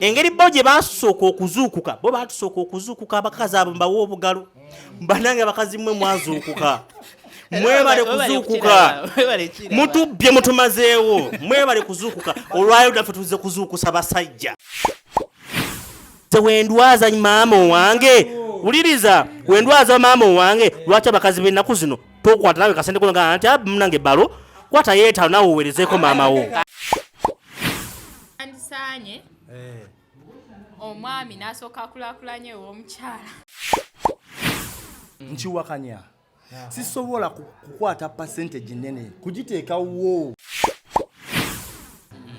engeri bo gye basooka okuzuukuka bo batusooka okuzuukuka abakazi abo mbawa obugalo banange abakazi mwe mwazuukuka mwebale kuzuukuka mutubbye mutumazeewo mwebale kuzuukuka olwayo daffe tuze kuzuukusa basajja nze wendwaza maama owange wuliriza wendwaza maama owange lwaki abakazi benaku zino tokwata nawe kasente konaga nti munange balo kwata yetano nawe owerezeko maama wo andisanye eh. omwami nasooka akulakulanya ew'omukyala nkiwakanya sisobola kukwata percentage nene kugiteeka wo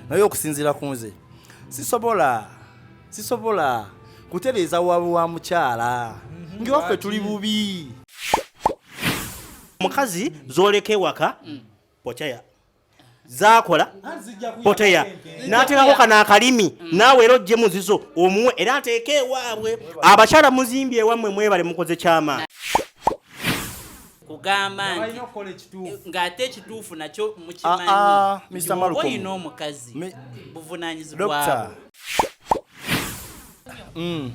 naye okusinziira ku nze sisobola sisobola kutereeza wabu wa mukyala mhm. ngewaffe tuli bubi mukazi zoleka ewaka mm. okyaya zakola poteya natekako kana akalimi mm. naawe era ojje muzizo omuwe era ateeke ewaabwe abakyala muzimbi ewammwe mwebale mukoze kyamaani kugamba nti eh, ng'ate ekituufu nakyo mukimanyiolina ah, ah, omukazi buvunanyizibwabo mm.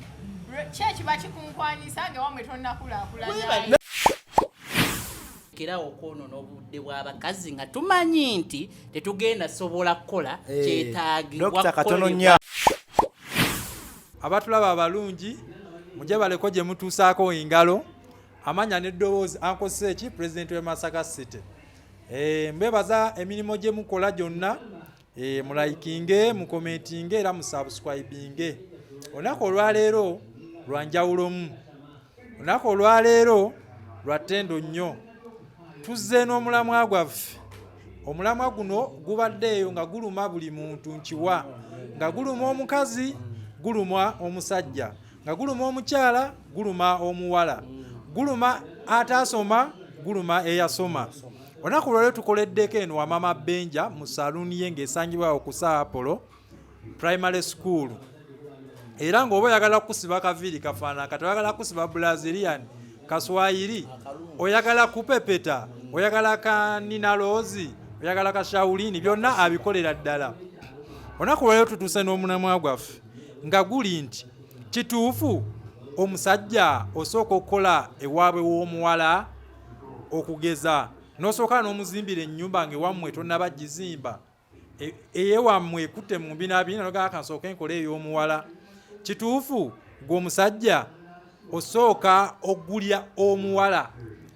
kyekiba kikunkwanyisa nga wamwe tonakulakulanya kerawo okwonoona obudde bw'abakazi nga tumanyi nti tetugenda sobola kukola eh, kyetaagibwa abatulaba abalungi mujja baleko gye mutuusaako engalo amanya n'eddoboozi ankozesa eki pulezidenti w'e masaka city eh, mbebaza emirimu gye mukola gyonna Eh, mulayikinge mukomentinge era musubscribinge olunaku olwaleero lwanjawulomu olunaku olwaleero lwattendo nnyo tuzze n'omulamwa gwaffe omulamwa guno gubadde eyo nga guluma buli muntu nkiwa nga guluma omukazi guluma omusajja nga guluma omukyala guluma omuwala guluma ataasoma guluma eyasoma olunaku lwaleo tukoleddeko eno wamama benja mu saluuni ye ng'esangibwawo ku saapolo primary school era ng'oba oyagala kukusiba kaviiri kafaanana kati oyagala kukusiba brazilian kaswayiri oyagala kupepeta oyagala kanina loozi oyagala kashawulini byonna abikolera ddala olunaku lwaleo tutuuse n'omunamwa gwaffe nga guli nti kituufu omusajja osooka okukola ewaabwe w'omuwala okugeza n'osooka n'omuzimbira ennyumba ng'ewammwe tonnaba gizimba e, eyewammwe ekutte mu mbinabina nogaaka nsooka enkola ey'omuwala kituufu gwe omusajja osooka okugulya omuwala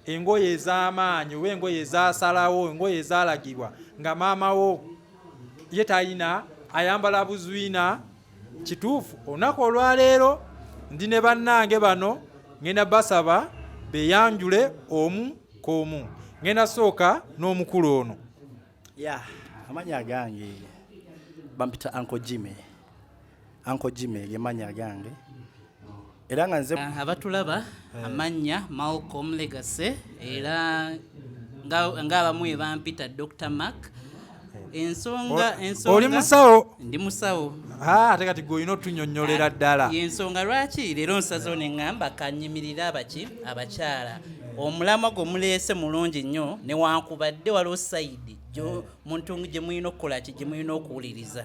engoye ez'amaanyi oba engoye ezasalawo engoye ezalagibwa nga maama wo ye tayina ayambala buzwina kituufu olunaku olwaleero ndi ne bannange bano ngenda basaba beyanjule omu koomu ngenda sooka n'omukulu ono ya amanya agange bampita anko jime Uncle Jimmy lye mannya gange era nga nze ah, abatulaba eh. amannya Malcolm Legacy era ng'abamu nga ebampita Dr Mark eh. ensonga ensonga oli musawo ndi musawo ah, ate kati gwe olina otunyonnyolera ah, ddala ensonga lwaki leero nsazewo ne ŋŋamba kanyimirire abaki abakyala omulamwa gwe muleese mulungi nnyo newankubadde waliwo sayidi muntu gye mulina okukola ki gye mulina okuwuliriza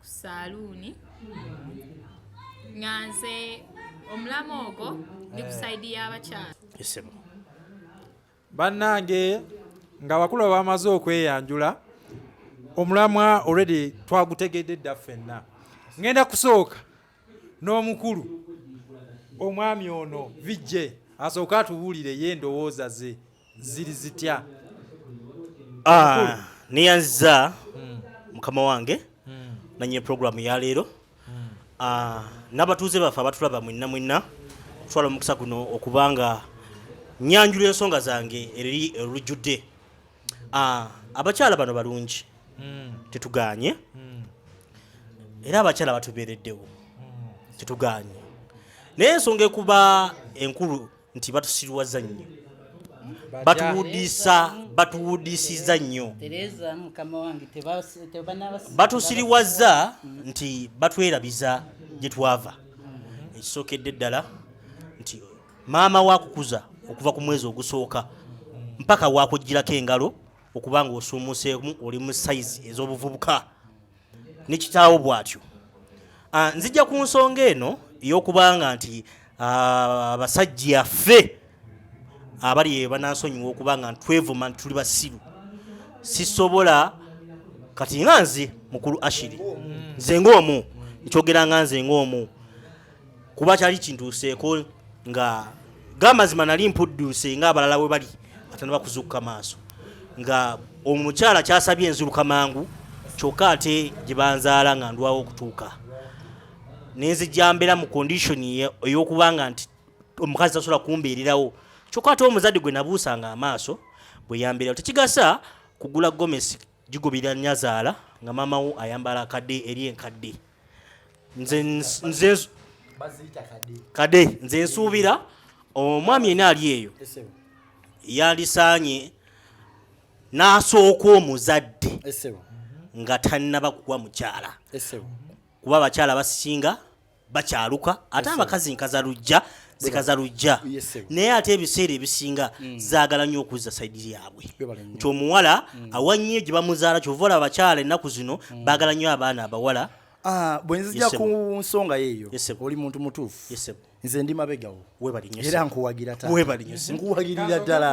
ku saaluuni nga nze omulamu ogwo ndi ku eh. saidi y'abakyala isimu bannange ng'abakulu abamaze okweyanjula omulamwa already twagutegedde dda ffenna ŋŋenda kusooka n'omukulu omwami ono vj asooke atubuulire ye endowooza ze ziri zitya ah, neyanziza hmm. mukama wange hmm. nanye programu yaleero hmm. ah, n'abatuuze baffe abatulaba mwinna mwinna okutwala omukisa guno okubanga nyanjula ensonga zange eri olujjudde Ah, abakyala bano balungi mm. tetuganye mm. era abakyala batubeereddewo mm. tetuganye naye ensonga ekuba enkulu nti batusiriwaza nnyo batuwudisa batuwudisiza nnyo batusiriwaza nti batwerabiza gye twava ekisokedde ddala nti maama wakukuza okuva ku mwezi ogusooka mpaka wakugirako engalo okuba nga osuumuseemu oli mu sayizi ez'obuvubuka ne kitaawo bw'atyo ah, nzija ku nsonga eno ey'okubanga nti ah, abasajja ffe abali banansonyiwa okuba nga twevuma nti tuli basiru sisobola kati nga nze mukulu ashiri nze ng'omu nkyogera nga nze ng'omu kuba kyali kintuuseeko nga gamazima nali mpudduuse nga abalala we bali ate nebakuzuukuka maaso nga omukyala kyasabye enzuruka mangu kyokka ate gye banzaala nga ndwawo okutuuka nenzijja mbeera mu condition ey'okuba nga nti omukazi tasobola kumbeererawo kyokka ate omuzadde gwe nabuusanga amaaso bwe yambeerawo tekigasa kugula gomesi gigoberera nyazaala nga maamawo ayambala akadde eri enkadde nze nze kade nze nsuubira omwami ena ali eyo yalisaanye n'asooka omuzadde nga tannaba kuwa mukyala kuba abakyala basinga bakyaluka ate abakazi nkaza lujja zikaza lujja naye ate ebiseera ebisinga mm. zaagala nnyo okuzza saidi yaabwe nti omuwala mm. awa nnyo gye bamuzaala kyova olaba abakyala ennaku zino mm. baagala nnyo abaana abawala ah, bwe nzija ku nsonga yeeyo oli muntu mutuufu nze ndi mabegawo era nkuwagira nkuwagirira ddala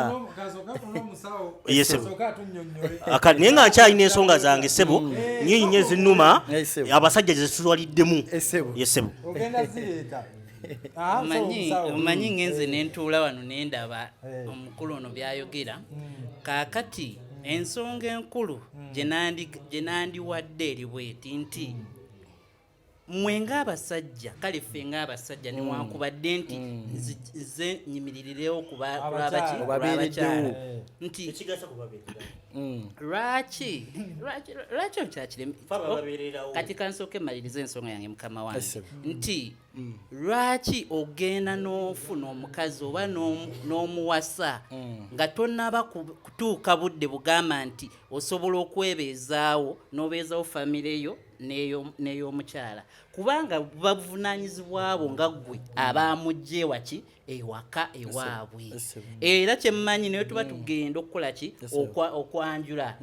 naye nga nkyalina ensonga zange sebo mm. nyinyi nyo ezinuma abasajja zesitwaliddemu yesebo Ah, omanyi ngenze eh. nentuula wano nendaba eh. omukulu ono byayogera hmm. kakati hmm. ensonga enkulu hmm. gyenandiwadde eri bweti nti mwe ngaabasajja kale ffe ngaabasajja newankubadde nti nze nyimiririrewo kulwabakyala nti lwaki lwaki okyakirekati kansooka emaliriza ensonga yange mukama wange nti Mm. lwaki ogenda n'ofuna omukazi oba n'omuwasa mm. nga tonaba kutuuka budde bugamba nti osobola okwebeezaawo n'obeezawo famire yo n'ey'omukyala kubanga buba buvunaanyizibwa bwo nga ggwe mm. abaamujja ewaki ewaka ewaabwe era kyemmanyi naye tuba tugenda okukola ki okwanjula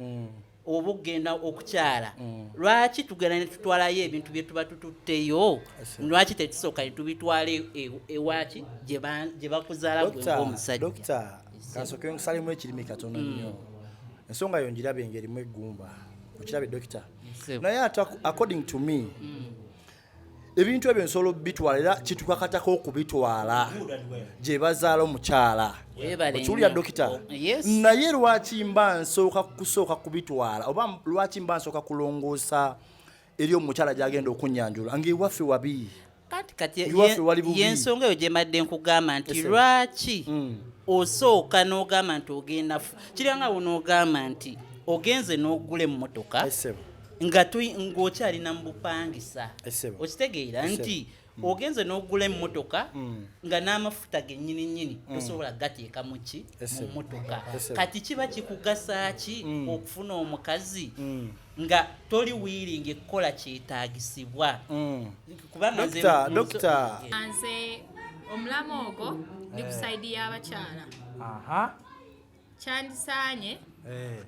oba okugenda okukyala mm. lwaki tugenda netutwalayo ebintu byetuba tututteyo lwaki tetusooka netubitwala e, e, ewaki gye bakuzaala gweomusajja kansooke nkusalemu ekirimi katono mm. nnyo ensonga yo njirabe engerimu eggumba okirabe dokita naye ate according to me mm. ebintu ebyo nsobola okubitwala era kitukakatako okubitwala gye bazaala omukyala okiwulira dokita oh, naye lwaki mba nsooka kusooka kubitwala oba lwaki mba nsooka kulongoosa eri omukyala gyagenda okunyanjula ngaewaffe wabi yensonga eyo gyemadde nkugamba nti lwaki mm. osooka n'ogamba nti ogenda kiranga wo n'ogamba nti ogenze n'ogula emmotoka nga ng'okyalina mu bupangisa okitegeera nti mm. ogenze n'ogula emmotoka mm. nga n'amafuta gennyini nnyini mm. tosobola gateeka mu ki mu mmotoka kati kiba kikugasa ki okufuna omukazi nga toli wiiringi ekukola kyetaagisibwa kubamazenze omulamu ogwo ndi ku saidi y'abakyala kyandisaanye eh.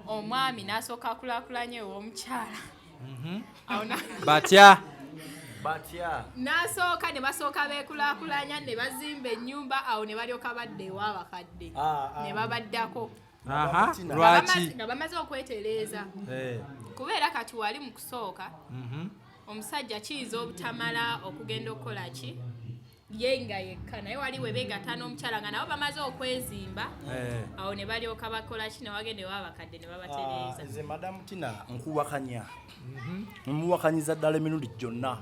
omwami n'asooka akulakulanya ew'omukyala mhm. batya batya n'asooka ne basooka beekulakulanya ne bazimba ennyumba awo ne balyoka badda ewa abakadde ah, ah. ne babaddako lwaki nga bamaze okwetereeza eh. kubeera kati wali mu kusooka mhm. omusajja kiyinza obutamala okugenda okukola ki ye nga yekka naye wali webegatta n'omukyala nga nabo bamaze okwezimba eh. awo ne balyoka bakola ki newagenda ewa abakadde ne babatereeza ah, nze madamu tina nkuwakanya mhm. muwakanyiza ddala emirundi gyonna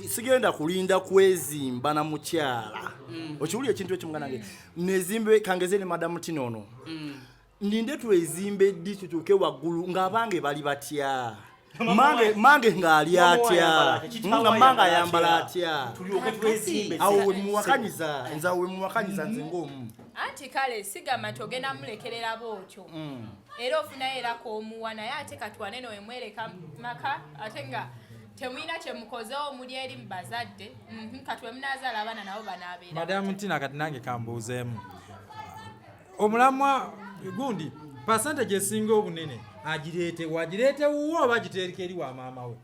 sigenda kulinda kwezimba na mukyala mm. okiwulira ekintu ekimugana nge mm. nezimbe kangeze ne madamu tina ono mm. Ninde twezimbe ddi tutuuke waggulu ng'abange bali batya? Mange mange ng'ali atya? Nga mange ayambala atya? Tulyoke twezimbe. Awo we muwakanyiza, nze awo we muwakanyiza nze ng'omu. Anti kale sigamba nti ogenda mulekerera bw'otyo. Mm. Era ofunayo era k'omuwa naye ate katwane no emwereka maka ate nga temulina kyemukozewo muli eri mu bazadde mhm, kati wemunaazaala abaana nabo banaabeera madamu ntina kati nange kambuuzeemu omulamwa gundi pasente gyesinga obunene agireete wagireete wuwo oba agiteereka eri wa maama we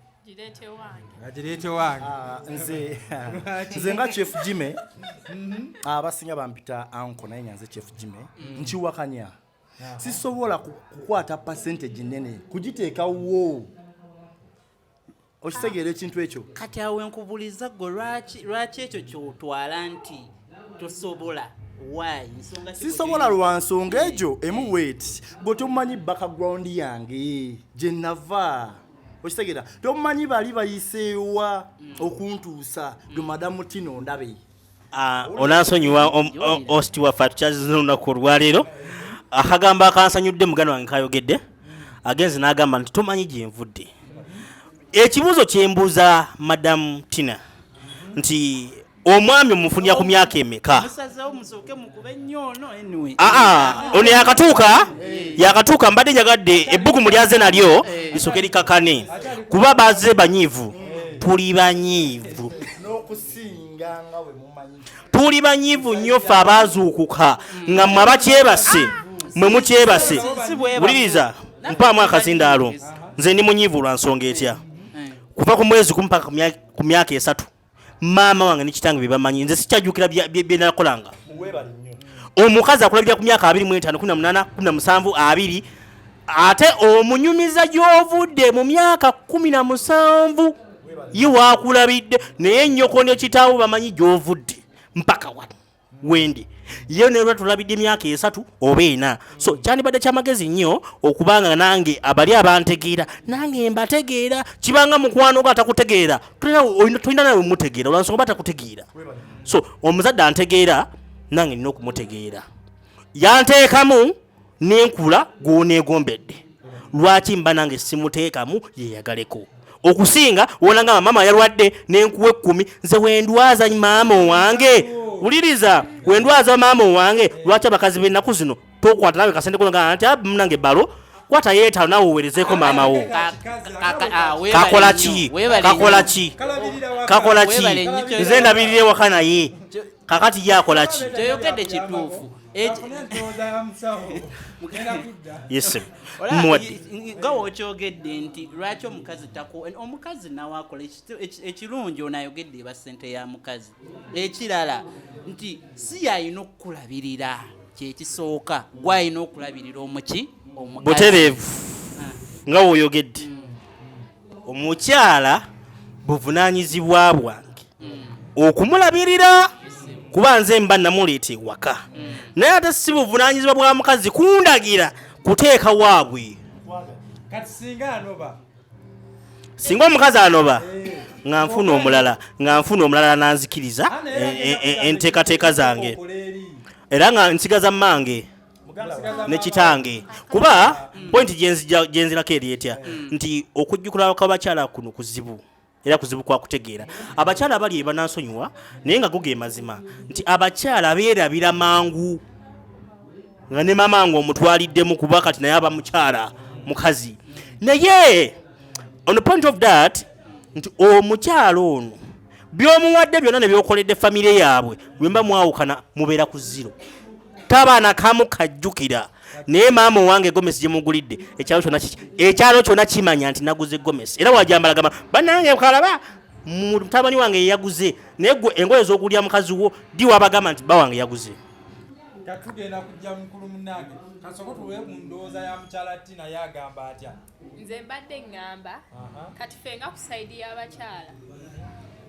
agireete wange ah, nze nze nga chief jime mhm. ah, abasinga bampita anko naye nga nze chief jime mm. nkiwakanya sisobola kukwata percentage nene kugiteeka wo okitegeera ekintu ekyo kati awo enkubuliza gwe lwaki ekyo kyotwala nti tosobola sisobola lwa nsonga egyo emu weti gwe tomumanyi background yange gye nava okitegeera tomumanyi bali bayiseewa mm. okuntuusa gwe madamu tino ndabe Ah, onansonyiwa osti waffe atukyazizna olunaku olwaleero akagambo akansanyudde muganda wange kayogedde agenzi n'agamba nti tomanyi gyenvudde ekibuuzo kyembuuza madamu tina nti omwami omufunira ku myaka emeka ono yakatuuka eh. yakatuuka mbadde njagadde ebbugumu lyaze nalyo eh. lisoke likakane kuba baze banyiivu tuli banyiivu tuli banyivu nnyo ffe abaazuukuka nga mwe abakyebase mwe mukyebase wuliriza mpaamu akazindaalo nze ndi munyivu lwa nsonga etya kuva ku mwezi kumu paka ku myaka esatu maama wange ne kitange bye bamanyi nze sikyajjukira bye nakolanga omukazi akulabira ku myaka abiri mu etaano kumi na munaana kumi na musanvu abiri ate omunyumiza gy'ovudde mu myaka kumi na musanvu ye wakulabidde naye nyoko ne kitaawo bamanyi gyovudde mpaka wano wendi ye nelwa tulabidde emyaka esatu oba ena so kyandibadde kyamagezi nnyo okubanga nange abali abantegeera nange mbategeera kibanga mukwano oga atakutegeera tolina nawe mutegeera olwansonga oba atakutegeera so omuzadde antegeera nange nina okumutegeera yanteekamu nenkula gwonegombedde lwaki mba nange simuteekamu yeyagaleko okusinga wonangamba maama yalwadde nenkuwa ekkumi nze wendwaza maama owange wuliriza wendwaza maama owange lwaki abakazi benaku zino tokwata nawe kasente konaga nti munange balo kwata yeetano nawe owerezeeko maama wo kakola ki kakola ki kakola ki nze ndabirira ewaka naye kakati ye akola ki nga wokyogedde nti lwaki omukazi tako omukazi nawe akola ekirungi onayogedde eba sente ya mukazi ekirala nti si yalina okukulabirira kyekisooka gwalina okulabirira omuki omubutereevu ah. nga woyogedde mm. omukyala buvunanyizibwa bwange okumulabirira kuba nze mba namuleeta ewaka naye ate si buvunanyizibwa bwa mukazi kundagira kuteeka waabwe singa omukazi anoba nga nfuna omulala nga nfuna omulala nanzikiriza e, e, e, enteekateeka zange era nga nsigaza mmange ne kitange kuba pointi gyenzirako eri etya mm. nti okujjukula kwabakyala kuno kuzibu era kuzibu kwa kutegeera abakyala abali ebanansonyiwa naye nga guga emazima nti abakyala beerabira mangu nga ne mama nga omutwaliddemu kuba kati naye aba mukyala mukazi naye on the point of that nti omukyala ono byomuwadde byonna nebyokoledde famire yaabwe lwemba mwawukana mubeera ku ziro taba nakamu kajjukira naye maama owange gomesi gyemugulidde ekyalo kyona ekyalo kyona kimanya nti naguze gomesi era wajambalagama banange kalaba mutabani wange yeyaguze naye gwe engoye zokulya mukazi wo di wabagamba nti bawange yaguze tugenda kujja mukulu munange kasoko tuwe ku ndowooza ya mukyala tina yagamba atya nze mbadde ŋŋamba kati ffe nga ku sayidi y'abakyala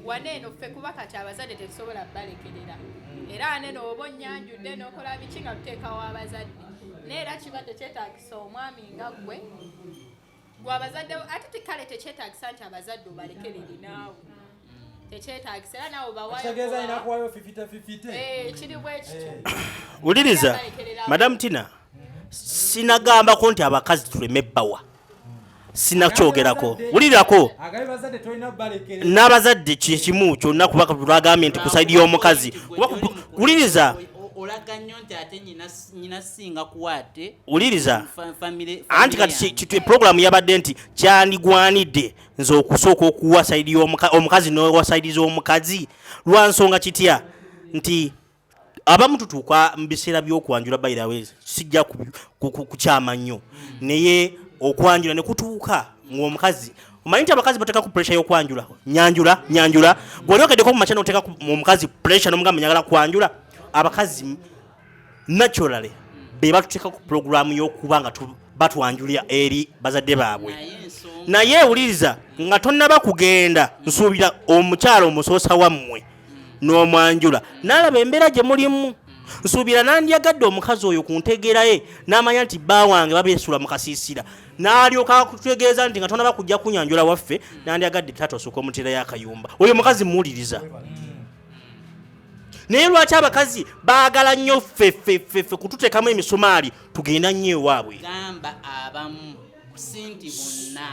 wane eno ffe kuba kati abazadde tetusobola balekerera hmm. era wane nooba onnyanjudde n'okola biki nga tuteekawo abazadde naye era kiba tekyetagisa omwami nga gwe gwe abazadde ate tekale tekyetagisa nti abazadde obalekerere naawe tekyetagisa era nawe bawayotegeeza alina kuwayo fifite fifite eh, kiri bwekityo eh. wuliriza madamu tina sinagambako nti abakazi tuleme bawa sinakyogerako wulirako n'abazadde kyekimu kyonna kuba lwagambye nti kusaidi y'omukazi wuliriza wuliriza anti kati puroguramu yabadde nti kyandigwanidde nze okusooka okuwa saidi omukazi nowa saidi z'omukazi lwa nsonga kitya nti abamu tutuuka mu biseera by'okwanjula bayirawe sijja kukyama nnyo naye okwanjula ne kutuuka ng'omukazi omanyi nti abakazi bateekaku puresha y'okwanjula nyanjula nyanjula gwe olyokedeko mu makya noteeka omukazi puresha nomugamba nyagala kwanjula abakazi naturally be batuteeka ku pulogulaamu y'okuba nga batwanjulira eri bazadde baabwe naye ewuliriza nga tonnaba kugenda nsuubira omukyala omusoosa wammwe n'omwanjula n'alaba embeera gye mulimu nsuubira nandyagadde omukazi oyo ku ntegeera ye n'amanya nti bba wange babeesula mu kasiisira n'alyoka akutegeeza nti nga tonaba kujja kunyanjula waffe nandyagadde taata osooka omuteerayo akayumba oyo mukazi muwuliriza naye lwaki abakazi baagala nnyo ffeffeffeffe kututeekamu emisumaali tugenda nnyo ewaabwe gamba abamu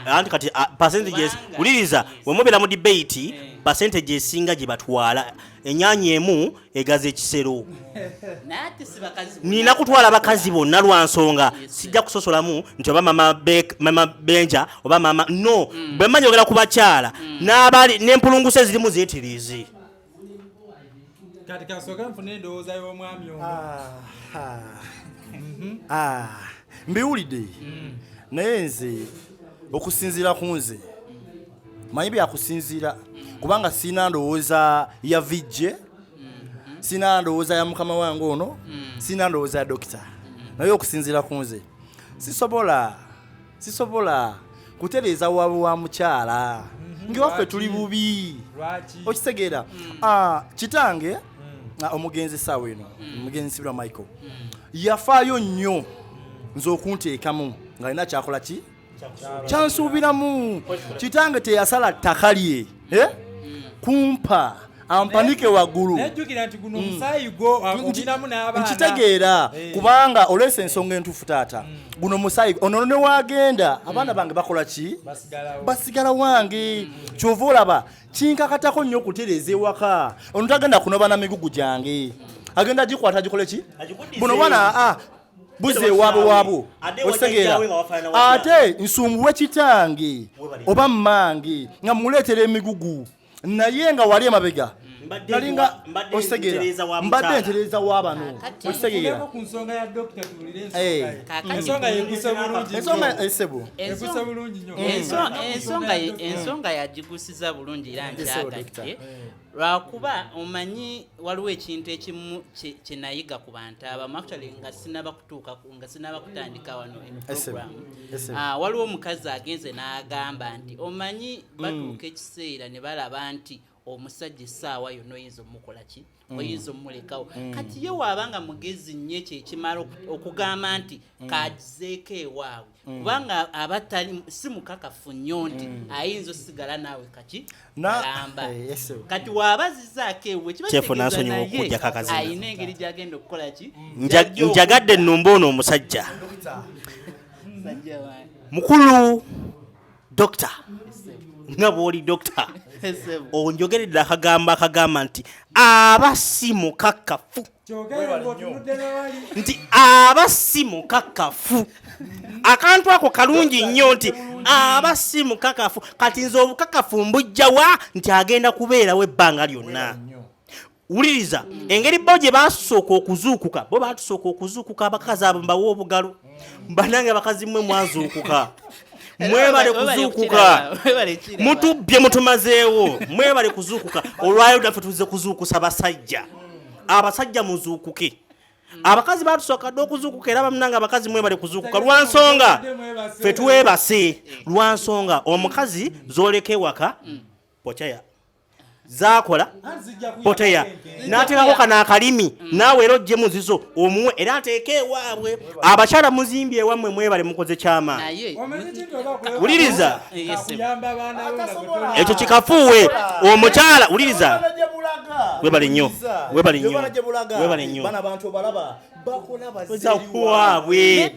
anti kati ah, percentages wuliriza wemubeera mu debate eh. percentage esinga gye batwala enyaanya emu egaza ekisero nina kutwala bakazi bonna lwa nsonga sijja kusosolamu nti oba mama benja oba mama no mm. bwe manya ogera ku bakyala mm. n'abali n'empulunguse zirimu ziyitirizi kati kasooka nfuna endowooza y'omwami omu ah, ah. Mhm. Ah, mbiwulidde mm. naye nze okusinziira ku nze manyi byakusinziira mm. kubanga sirina ndowooza ya vijje mm-hmm. sirina ndowooza ya mukama wange ono mm. sirina ndowooza ya dokita naye okusinziira ku nze sisobola sisobola kutereeza wawe wa mukyala mhm. ngewaffe tuli bubi okitegeera mm. ah, kitange mm. ah, omugenzi saawa eno mm. omugenzi sibira michael yafaayo nnyo nze okunteekamu nga alina kyakola ki kyansuubiramu kitange teyasala ttaka lye eh? kumpa ampanike waggulu nkitegeera eh. kubanga oleese ensonga entuufu taata mm. guno musayi ono newagenda mm. abaana bange bakola ki basigala wange mm. kyova olaba kinkakatako nnyo okutereeza ewaka ono tagenda kunoba na migugu gyange agenda gikwata agikole ki buno bana ah, buze ewaabwe waabwo otegeera ate nsumbuwe kitange oba mmange nga muleetera emigugu naye nga wali emabega nalinga osegera mbadde ntereeza wabano okitegegera ku nsonga ya dokita tuwulire ensonga eh. yeguse bulungi ensonga esebo eh, eguse bulungi nyo ensonga eh, ensonga yagigusiza bulungi era nkyagatte lwakuba omanyi waliwo ekintu ekimu kyenayiga ku bantu abamu actually nga sinaba kutuuka nga sinaba kutandika wano emiprogramu ah, waliwo omukazi agenze n'agamba nti omanyi mm. batuuka ekiseera ne balaba nti omusajja essaawa yonna oyinza omukola ki mm. oyinza omulekawo mm. kati ye waaba nga mugezi nnyo ekyo ekimala okugamba nti kagizeeko ewaabwe kubanga aba tali si mukakafu nnyo nti ayinza osigala naawe kaki alamba eh, kati waaba zizaako ewe kibaeeayina engeri gyagenda okukola ki njagadde nnumba ono omusajja mukulu dokita nga bwoli dokita onjogeredde akagambo akagamba nti aba si mukakafu nti aba si mukakafu akantu ako kalungi nnyo nti aba si mukakafu kati nze obukakafu mbujjawa nti agenda kubeerawo ebbanga lyonna wuliriza engeri bo gye baasooka okuzuukuka bo baatusooka okuzuukuka abakazi abo mbawa obugalo banange abakazi mwe mwazuukuka mwebale kuzuukuka mutubbye mutumazeewo mwebale kuzuukuka olwayo daffe tuze kuzuukusa basajja abasajja muzuukuke abakazi batusooka dde okuzuukuka era bamunanga abakazi mwebale kuzuukuka lwa nsonga fe twebase lwa nsonga omukazi zoleka ewaka mm. pochaya zakola poteya natekako kana akalimi mm. naawe era ojje muzizo omuwe era ateeke ewaabwe abakyala muzimbi ewamwe mwebale mukoze kyama wuliriza ekyo kikafuuwe omukyala wuliriza webale nnyo webale nnyo webale nnyo bakola baziwaabwe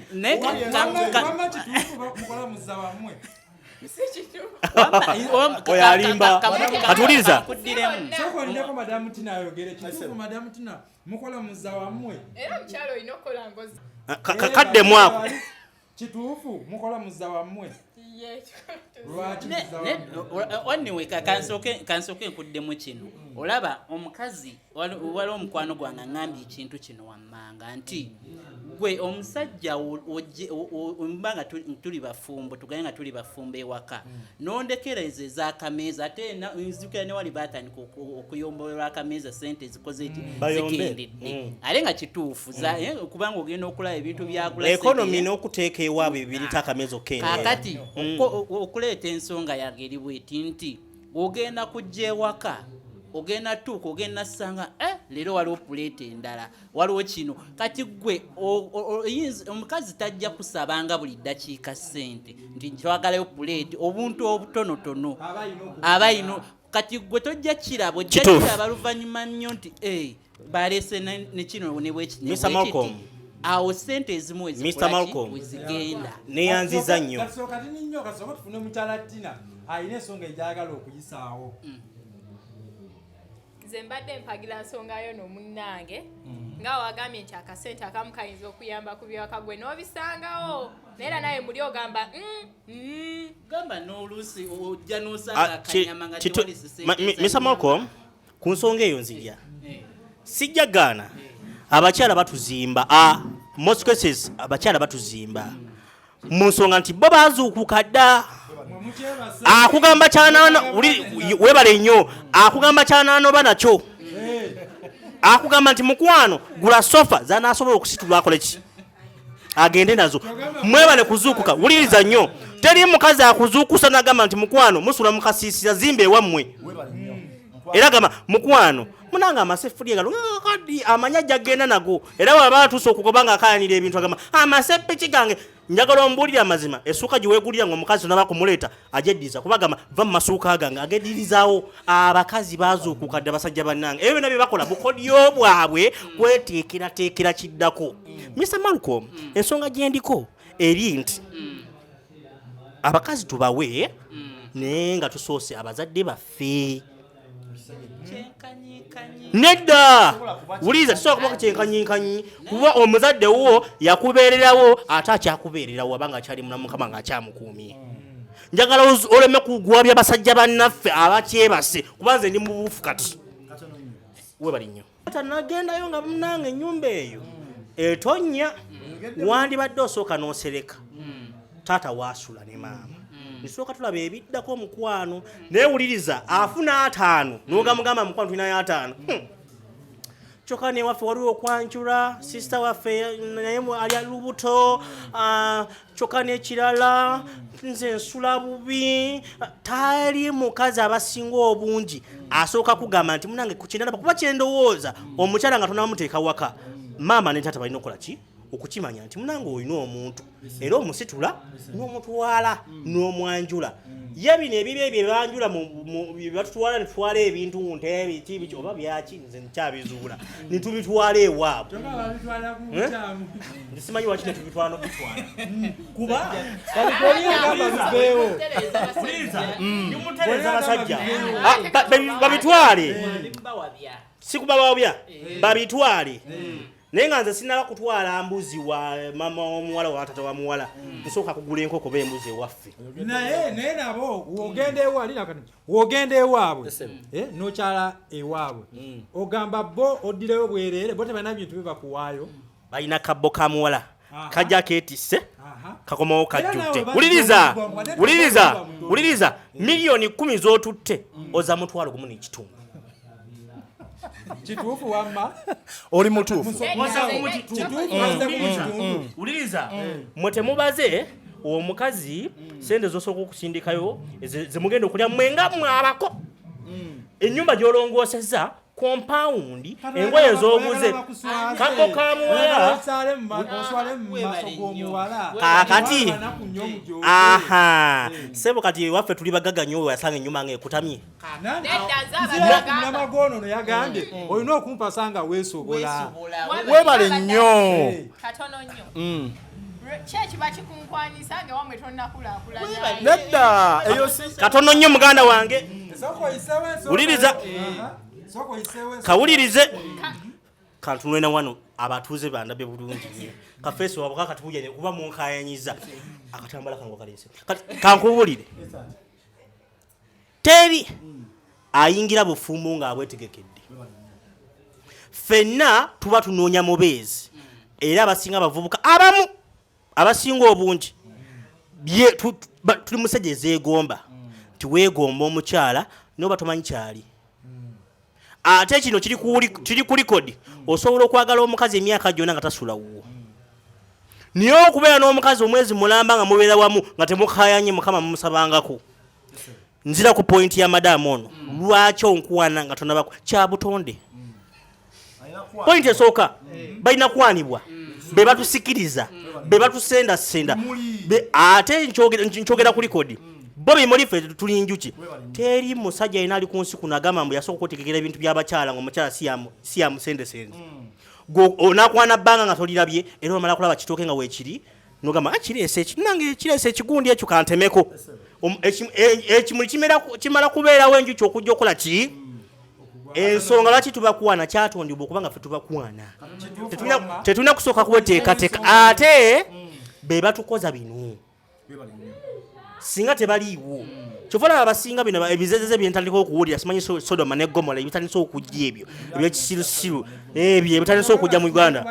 oyo alimba katuwuliriza kyokolinako madamu tina ayogere kitufu madamu tina mukola muza wammwe era omukyalo olina okukola ngozi kaddemu ako kituufu mukola muza wammwe lwakiwaniwe kansoke nkuddemu kino olaba omukazi waliwo omukwano gwange aŋambye ekintu kino wammanga nti gwe omusajja omuba nga tuli bafumbo tugane nga tuli bafumbo ewaka hmm. nondekereza ezakameeza ate nzukira newali batandika okuyombolerwa akameeza sente ezikoze ti hmm. zikendedde hmm. ate nga kituufu eh, kubanga ogenda okulaba ebintu byagulaekonomi n'okuteeka ewaabwe ebirita akameeza okukendekakati okuleeta ensonga yageri bweti nti ogenda kujja ewaka ogenda tuuka ogenda sanga eh, leero waliwo puleeta endala waliwo kino kati gwe omukazi tajja kusabanga buli ddakiika ssente nti twagalayo puleeti obuntu obutonotono aba ino kati gwe tojja kirabo ojja kiraba luvannyuma nnyo nti eh, balese nekino nebwekiti awo sente ezimu ezigenda neyanziza nnyo alina ensonga egyagala okuyisaawo mm. nze mbadde mpagira nsonga yo nomunnange mm. nga wagambye nti akasente akamu kayinza okuyamba ku byewaka gwe n'obisangawo naye era naye muli ogamba mm, mm. gamba n'oluusi ojja n'osanga ah, akanyama nga tewalisismisa malcom ku nsonga eyo nzija sijja gaana abakyala batuzimba a most cases abakyala batuzimba mu nsonga nti bo bazuukuka dda akugamba kyanano webale nnyo akugamba kyananoba nakyo akugamba nti mukwano gula sofa zanasobola okusitula akoleki agende nazo mwebale kuzuukuka wuliriza nnyo teri mukazi akuzuukusa nagamba nti mukwano musula mukasiisira zimba ewammwe era gamba mukwano munanga amaseffuliya galo kadi amanya jagenda nago era waba atuuse okugoba nga akayanira ebintu agamba amasepiki gange njagala ombuulire amazima esuuka gye weegulira nga omukazi naba kumuleeta ajeddiza kuba gamba va mu masuuka gange agedirizawo abakazi bazuukuka dda basajja bannange ebyo byonna bye bakola bukodyo bwabwe kweteekerateekera kiddako mr malcolm ensonga gyendiko eri nti abakazi tubawe naye nga tusoose abazadde baffe nedda wuliriza tusobola kuba kukyenkanyikanyi kuba omuzadde wo yakubeererawo ate akyakubeererawo abanga akyali muna mukama nga akyamukuumye njagala oleme kugwabya basajja bannaffe abakyebase kuba nze ndi mubuufu kati webali nnyo tanagendayo nga munange enyumba eyo etonya wandibadde osooka nosereka taata wasula ne maama nsooka tulaba ebiddako omukwano newuliriza afuna ataano nogamugamba mukwano tulinayo ataano hmm. kyoka newaffe waliwo okwanjula sisita waffe naye ali lubuto ah, kyokka n'ekirala nze nsula bubi tali mukazi abasinga obungi asooka kugamba nti munange kukinalaba kuba kyendowooza omukyala nga tonamuteeka waka maama ne taata balina okukola ki okukimanya nti munange olina omuntu era omusitula n'omutwala n'omwanjula mm. ye bino ebibe bye banjula batutwala netwala ebintu ntebiki biki oba byaki nze nkyabizuula mm. netubitwala ewaabwe eh? simanyi waki netubitwala nokutwala mm. kuba abasajja ah, babitwale sikubabawabya eh. babitwale eh. naye nga nze sinaba kutwala mbuzi wa mama womuwala wa tata wa muwala hmm. nsooka kugula enkoko ba embuzi ewaffe naye naye nabo wogenda hmm. ewali nakati wogenda ewaabwe eh, nokyala ewaabwe hmm. ogamba bo oddireyo bwereere bo tebalina bintu bibakuwaayo balina kabbo ka muwala kajja ketisse kakomawo kajjudde wuliriza wuliriza wuliriza miliyoni kumi z'otutte mm. oza mutwalo gumu n'ekitundu kituufu wamma oli mutuufu wuliriza mm. mm. mwe temubaze omukazi sente zosooka okusindikayo zemugenda okulya mwenga mwabako enyumba gyolongooseza kompawundi engoye zoguze kago ka muwala kakati aha sebo kati ewaffe tuli bagaga nyo weyasanga enyuma nga ekutamye namagonono yagambye mm. olina okumpasanga wesobola webale nnyo mm. nedda eyo si katono nnyo muganda wange wuliriza kawulirize kantunulena wano abatuuze bandabe bulungi nyo kafeesi wabwe kakatubujanye kuba munkayanyiza akatambala kangu kalinse kankubulire teri ayingira bufumbo ng'abwetegekedde fenna tuba tunoonya mubeezi era abasinga abavubuka abamu abasinga obungi tuli musajja ezeegomba nti weegomba omukyala noba tomanyi kyali ate kino kiri ku likodi osobola okwagala omukazi emyaka gyona nga tasula wuwo naye okubeera n'omukazi omwezi mulamba nga mubeera wamu nga temukayanye mukama mumusabangako nzira ku pointi ya madamu ono lwaki onkuwana nga tonabako kyabutonde pointi esooka balina kwanibwa be batusikiriza be batusendasenda ate nkyogera ku likodi bobi mulife tuli njuki teri musajja yena ali ku nsi kuno agamba mbu yasooka okutegekera ebintu by'abakyala nga omukyala si amusendesende hmm. onakwana bbanga nga tolirabye era omala kulaba kitooke nga weekiri nogamba ah, kireese ekinange kireese ekigundi ekyo kantemeko ekimuli kimala kubeerawo enjuki okujja okukola ki hmm. ensonga lwaki tubakwana kyatondibwa okuba nga fe tubakwana tetulina kusooka kuweteekateeka ate hmm. be batukoza bino singa tebaliiwo kyova laba abasinga bino ebizezeze byentandika okuwulira simanyi sodoma ne gomola ebitandise okujja ebyo ebyekisirusiru ebyo ebitandise okujja mu uganda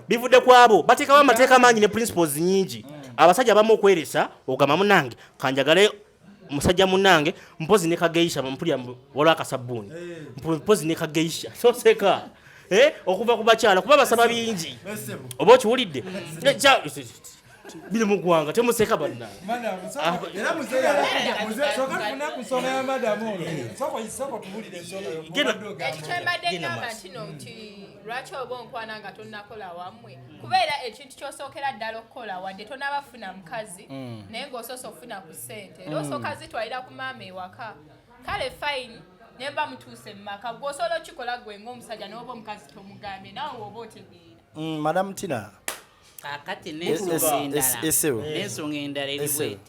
bivudde ku abo bateekawo amateeka mangi ne principles nyingi abasajja abamu okweresa ogamba munange kanjagale musajja munange mpozi ne kageisha mpulira waliwo akasabbuuni eh. mpozi ne kageisha soseka eh, okuva ku bakyala kuba basaba bingi oba okiwulidde biri mu ggwanga temuseka banna lwaki oba onkwana nga tonakola wamwe kubeera ekintu kyosookera ddala okukola wadde tonabafuna mukazi mm. naye ngaosoose okufuna ku ssente era mm. osooka zitwalira ku maama ewaka kale fine naye mba mutuuse mu maka gwe osobola okikola gwe ngaomusajja nawoba omukazi tomugambye nawe woba otegeera mm, madam tina kakati ah, nensonga endala eri bweti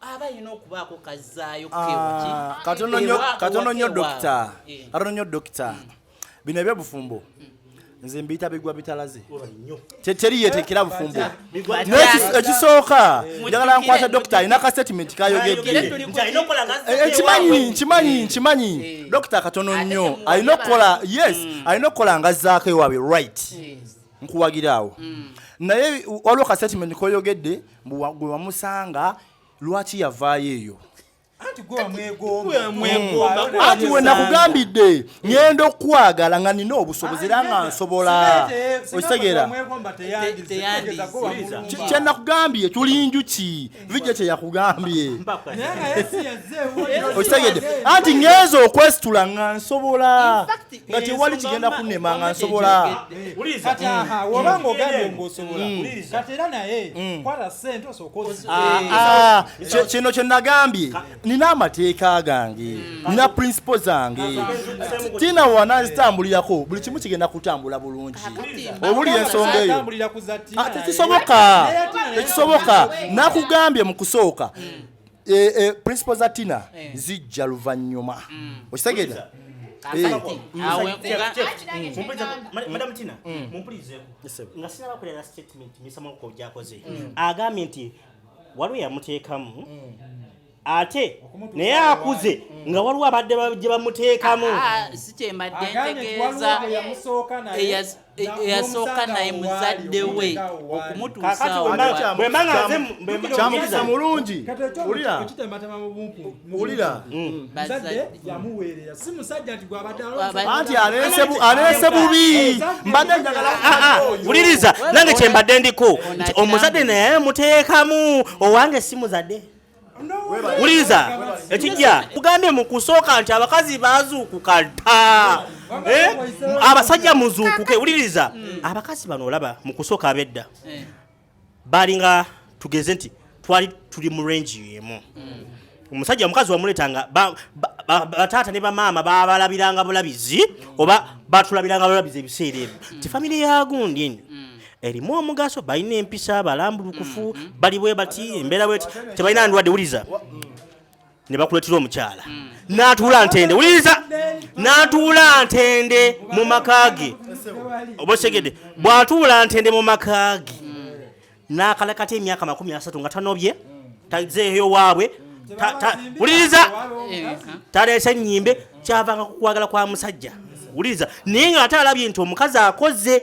aba alina okubaako kazzaayo ah, katono nnyo dokita katono nnyo dokita hmm. bino ebyobufumbo hmm. nze mbiyita bigwa bitalaze teteri yetekera bufumbo ekisooka njagala nkwata dokita alina ka statement kayogeddekimanyinkimanyi eh, eh, nkimanyi eh. dokita katono nnyo alina okukola yes hmm. alina okukola nga zaako ewaabwe right nkuwagiraawo naye waliwo ka statement koyogedde mbu wa- gwe wamusanga lwaki yavaayo eyo anti gwe wamwegomba anti we nakugambidde ngenda okukwagala nga nina obusobozi era nga nsobola okitegeera Kye- kye nakugambye tuli njuki vijja kye yakugambye okitegedde anti ngenza okwesitula nga nsobola nga tewali kigenda kunema nga nsobola oba ngaogambye ngaosobola kati era naye kwata sente osooka kino kye nagambye nina amateeka gange nina principle zange tiina wanazitambulirako buli kimu kigenda kutambula bulungi obuli ensonga eyo tekisoboka tekisoboka nakugambye mu kusooka eh, eh, principle za tina eh. zijja luvannyuma mm. okitegeera agambye nti waliwo yamuteekamu mm. ate naye akuze mm. nga waliwo abadde gye bamuteekamu ah, ah, sikyembadde ntegeeza eyasooka naye muzadde we okumutuusaokyamutuusa mulungi wulira mm. anti aleese bubi mbadde wuliriza nange kyembadde ndiko nti omuzadde naye muteekamu owange si muzadde wuliriza ekijja kugambye mu kusooka nti abakazi bazuukuka ta eh? abasajja muzuukuke wuliriza hmm. abakazi bano olaba mu kusooka abedda eh. balinga tugeze nti twali tuli mu range yemu hmm. omusajja omukazi wamuletanga bataata ne bamaama babalabiranga bulabizi oba batulabiranga bulabizi ebiseera ebyo hmm. ti famiry yagundi enyo erimu omugaso balina empisa balambulukufu mm, mm. bali bwe bati embeera bweti tebalina ndwadde wuliza mm. ne bakuleetera omukyala n'atuula ntende wuliriza n'atuula ntende mu maka ge oba osegedde bw'atuula ntende mu maka ge n'akalakata emyaka makumi asatu nga tanobye tazeeyo waabwe wuliriza taleese nnyimbe kyavanga ku kwagala kwa musajja wuliriza naye ng'ate alabye nti omukazi akoze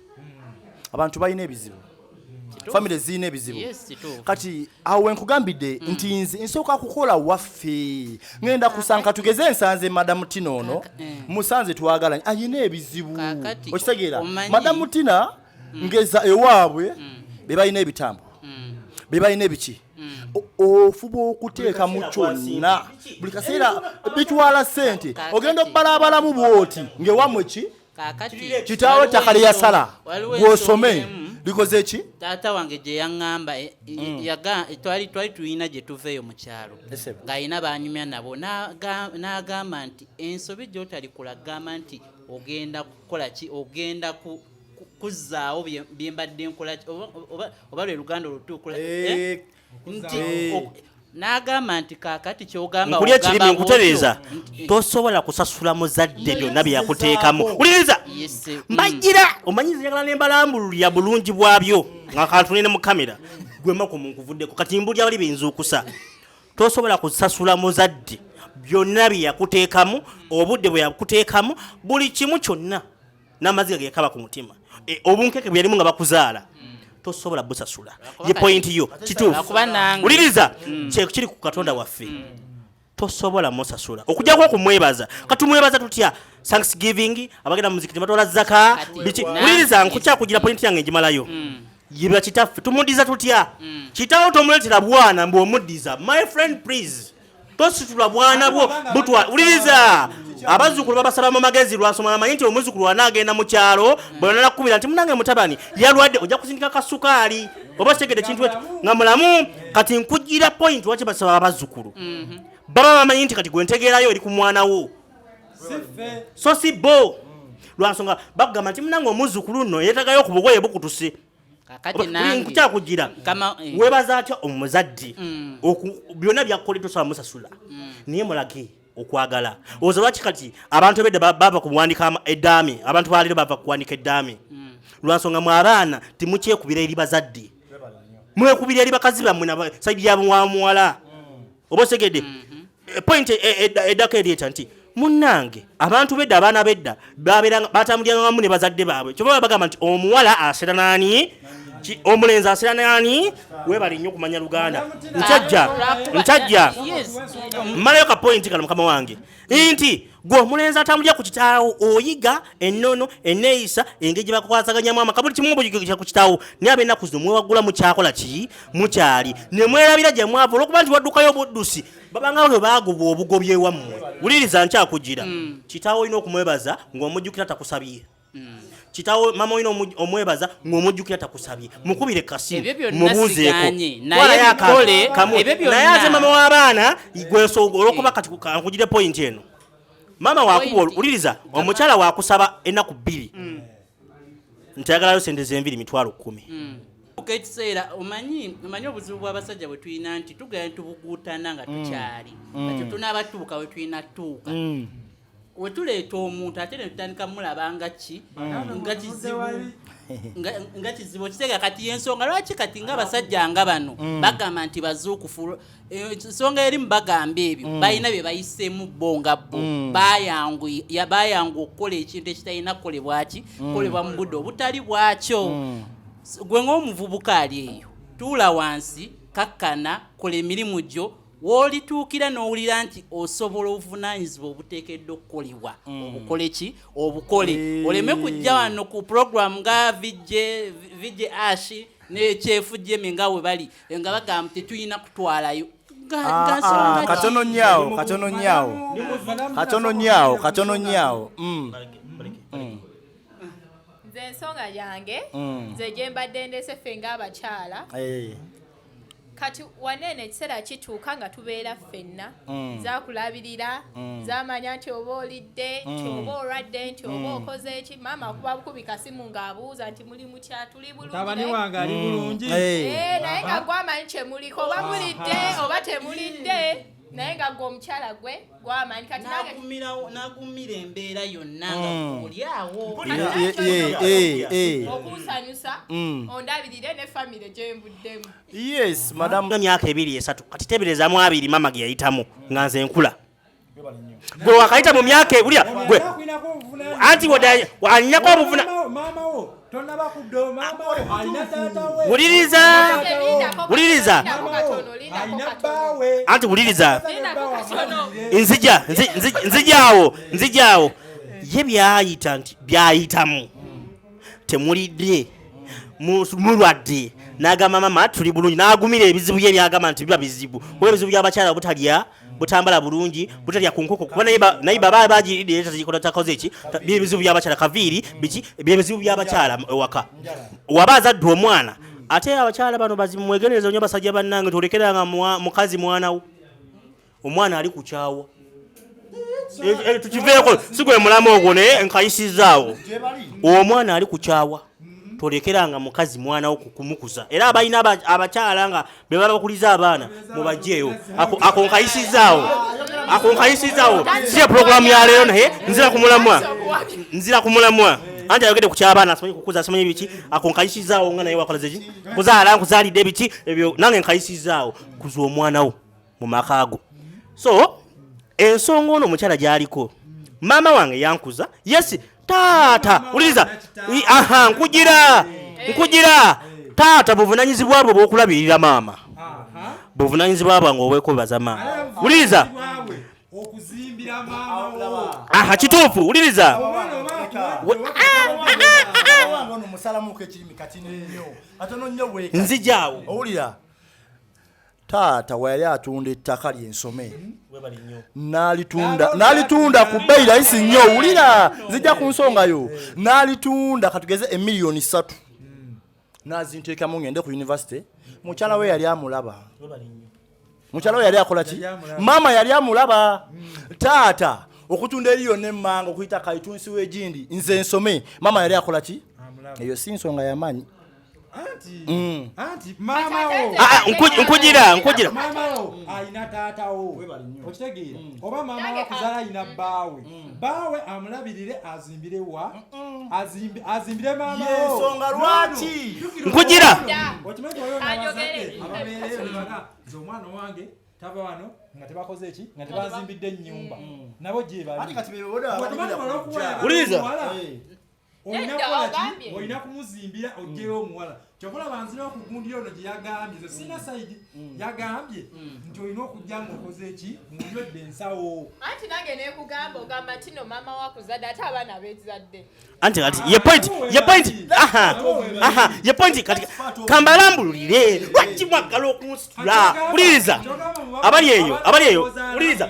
abantu balina ebizibu famire zirina ebizibu kati awo wenkugambidde mm. nti nze nsooka kukola waffe ngenda kusanka tugeze ensanze madamu tina ono eh. musanze twagalanye ayina ebizibu okitegeera madamu tina mm. ngeza ewaabwe mm. bebalina ebitambo bebalina ebiki ofuba okuteeka mu kyonna buli kaseera bitwala sente ogenda okubalabalamu bwoti ngewamwe ki kitaawo ettaka lye yasala gwosome likoze ki taata wange gye yaŋŋamba eh, mm. eh, twali twali tulina gye tuva eyo mu kyalo ng'alina banyumya nabo n'agamba nti ensobi gy'otalikula gamba nti ogenda kukola ki ogenda ku kuzzaawo bye mbadde nkola oba lwe luganda olutuukula eh, nti n'agamba nti kaakati kyogamba nkulya ekirimi nkutereeza tosobola kusasula muzadde byonna bye yakuteekamu wuliriza mbajjira mm. omanyi ziyagala ne mbalambululira bulungi bwabyo nga kantunene mu kamera gwemako munkuvuddeko kati mbulya bali benzuukusa tosobola kusasula muzadde byonna bye yakuteekamu obudde bwe yakuteekamu buli kimu kyonna n'amaziga gekaba ku mutima e, obunkeke bweyalimu nga bakuzaala tosobola busasula ye pointi yo kituufu wuliriza mm. kyekiri ku katonda waffe mm. tosobola musasula okujjako okumwebaza katumwebaza tutya thanksgiving abagenda mumuziki tebatwala zaka biki wuliriza nkukyakugira pointi yange njimalayo mm. yibwa kitaffe tumudiza tutya kitawo tomuletera bwana mbu omudiza my friend please tositula bwana bwo butwa uliriza abazukulu babasaba mu magezi lwasoma namanyi nti omuzukulu wanaagenda mu kyalo bwenanakukubira nti munange mutabani yalwadde ojja kusindika kasukaali oba kitegede ekintu ekyo nga mulamu kati nkugira point waki basaba abazukulu mhm. baba bamanyi nti kati gwentegeerayo eri ku mwana wo so si bo lwansonga bagamba nti munange omuzukulu nno yetagayo ku bugoye bukutuse nkukyakujira eh. webaza atya omuzadde mm. byonna byakukoledde osobola musasula mm. naye mulage okwagala oza lwaki kati abantu ebedda bava kuwandika eddaami abantu baleero bava kuwandika eddaami mm. lwansonga mu abaana timukyekubira eri bazadde mwekubira eri bakazi bammwe saidi yamuwamuwala oba osegedde mhm. eh, point eh, eh, eddako eryeta nti munnange abantu bedda abaana bedda batambuliranga wamu ne bazadde baabwe kyova bagamba nti omuwala asera naani omulenzi asera naani webali nnyo okumanya luganda nkyajja nkyajja mmalayo kapointi kano mukama wange nti gwe omulenzi atambulira ku kitaawo oyiga ennono eneeyisa engeri gye bakukwasaganyamu amaka buli kimu buyigikira ku kitaawo naye abenaku zino mwewaggula mukyakola ki mukyali ne mwerabira gye mwava olwokuba nti waddukayo obuddusi babanga bwe baagubwa obugobi ewammwe wuliriza nkyakugira mm. kitaawo olina okumwebaza ng'omujjukira takusabye Mm. kitawo mama olina omwebaza ng'omujjukira takusabye mukubire kasimu mubuuzeeko naye ate mama w'abaana gwensooga olwokuba kati nkugire pointi eno mama wakuba uliriza omukyala wakusaba enaku bbiri mm. nti ayagalayo sente zenviri mitwalo kumi mm. ekiseera omanyi omanyi obuzibu bw'abasajja bwe tulina nti tugenda tubuguutana nga mm. tukyali kati tunaaba tuuka we tulina tuuka wetuleeta omuntu ate netutandika mulaba nga ki mm. nga kizibu nga kizibu okiteega kati yensonga lwaki kati nga abasajja nga bano mm. bagamba nti bazuukufu eh, ensonga erimu bagamba ebyo mm. balina bye bayiseemu bo nga bo bayangu okukola ekintu ekitalina kukolebwaki kukolebwa mu budde obutali bwakyo gwe ng'omuvubuka ali eyo tuula wansi kakkana kola emirimu gyo w'olituukira n'owulira nti osobola obuvunaanyizibwa obuteekeddwa okukolebwa mm. obukole ki obukole eh. oleme kujja wano ku puroguramu nga vj ash nekyefu jemi nga we bali nga bagamba tetulina kutwalayo ah, ah, katono nyaawo katono nyaawo katono nyaawo katono nyaawo mm. mm. nze ensonga yange nze gyembadde ndese ffe ng'abakyala eh. kati waneeno ekiseera kituuka nga tubeera ffenna mm. zakulabirira mm. zamanya nti oba olidde nti mm. oba olwadde nti oba okoze eki maama kuba bukubi kasimu ng'abuuza nti muli mutya tuli bulungitabani wange ali bulungi eh, naye nga gwamanyi kyemuliko oba mulidde oba temulidde naye nga gwe omukyala gwe gwamanyi kati nagumira embeera yonna nga mm. olyawo okunsanyusa mm. ondabirire ne famire gyembuddemu yes madam nga myaka ebiri esatu kati teberezamu abiri mama ge yayitamu nga nze nkula gwe wakayita mu myaka ebulya gwe anti anyinako obuvuna wuliriza wuliriza anti wuliriza nzija nzijaawo nzijaawo ye byayita nti byayitamu temulidde mulwadde n'agamba mama tuli bulungi n'agumira ebizibu bye byagamba nti biba bizibu kuba ebizibu by'abakyala obutalya butambala bulungi butalya ku nkoko kuba naye baba bagiride tazikola takoze ki byebizibu byabakyala kaviiri biki byebizibu byabakyala ewaka waba azadde omwana ate abakyala bano bazimwegendereza nyo basajja bannange tolekeranga mukazi mwanawo omwana ali kukyawa eh, eh, tukiveeko sigwe mulamu ogwo naye nkayisizaawo omwana ali kukyawa Mm-hmm. tolekeranga mukazi mwana wo kumukuza era abalina abakyala nga be baba bakuliza abaana mubajeeyo ako nkayisizaawo ako nkayisizaawo siya pulogulaamu ya leero naye nzira ku mulamwa nzira ku mulamwa anti ayogedde ku kyabaana asimanyi kukuza asimanyi biki ako nkayisizaawo nga naye wakolazeki kuzaala nkuzaalidde biki ebyo nange nkayisizaawo kuza omwana wo mu maka go so ensonga ono omukyala gyaliko maama wange yankuza yesi taata wuliriza aha nkugira nkugira taata buvunanyizibwa bwe bwokulabirira maama buvunanyizibwa bwange obwekwebaza maama wuliriza aha kituufu wuliriza nzijawo owulira taata weyali atunda ettaka lyensome nalitunda ku bbeyi layisi nnyo wulira zijja ku nsonga yo nalitunda katugeze emiliyoni satu nazinteekamu ngende ku univesity mukyala we yali amulaba mukyala we yali akola ki maama yali amulaba hmm. taata okutunda eri yonna emmanga okuyita kaitunsi wegindi nze nsome maama yali akola ki eyo si nsonga yamaanyi Mm. Ah, ah, nkujira nkujira mamawo alina taatawo okitegeera mm. oba mama wakuzala alina mm. baawe baawe amulabirire azimbire wa azimbire mamawoensonga lwaki nkujira okimanyi omwana wange tava wano nga tebakoze ki nga tebazimbidde ennyumba nabo gyebaliwuliriza olina kumuzimbira ojjeyo omuwala kyokola banzira okugundira ono gye yagambye ze sina mm. saidi mm. yagambye mm. nti olina okujja nga okoze eki munywedde ensawo anti nange nekugamba ogamba nti no maama wakuzadde ate abaana bezadde anti kati ye point ye point aha aha ye point kati kambalambululire lwaki mwaggala okunsitula wuliriza abali eyo abali eyo wuliriza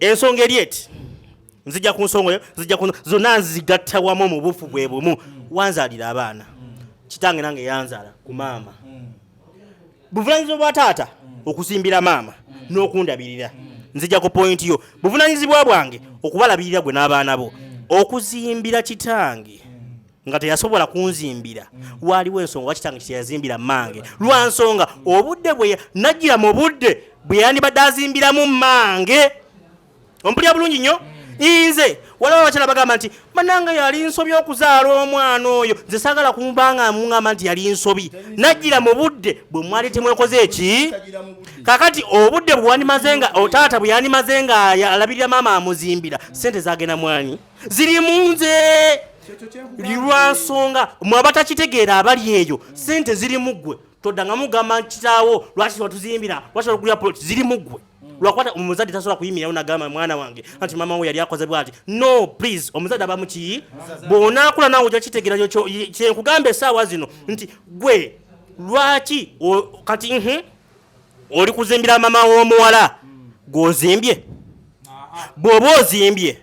ensonga eri eti nzija ku nsonga eyo nzija ku zonna nzigatta wamu mu bufu bwe bumu wanzaalira abaana kitange nange yanzaala ku maama buvunaanyizibwa bwa taata okusimbira maama n'okundabirira nzija ku pointi yo buvunaanyizibwa bwange okubalabirira gwe n'abaana bo okuzimbira kitange nga teyasobola kunzimbira waaliwo ensonga wakitange kiteyazimbira mange lwa nsonga obudde bwe najjira mu budde bwe yandibadde azimbiramu mange ompulira bulungi nnyo nze waliwo abakyala bagamba nti bananga yali nsobi okuzaala omwana oyo nze sagala kumbanga mugamba nti yali nsobi najjira mu budde bwe mwali temwekoze eki kakati obudde bwewandimaze nga otaata bwe yandimaze nga alabirira maama amuzimbira sente zagenda mwanyi ziri munze lwansonga mwe abatakitegeera abali eyo sente ziri muggwe todanga mugamba kitaawo lwaki watuzimbira lwaki watugulira plot ziri muggwe lwakwata omuzadde tasobola kuyimirawo nagamba mwana wange anti mama we yali akoze bwati no please omuzadde abamu ki bwonakula nawe oja kitegera kyenkugamba esaawa zino nti gwe lwaki kati oli kuzimbira mama w'omuwala gw'ozimbye bw'oba ozimbye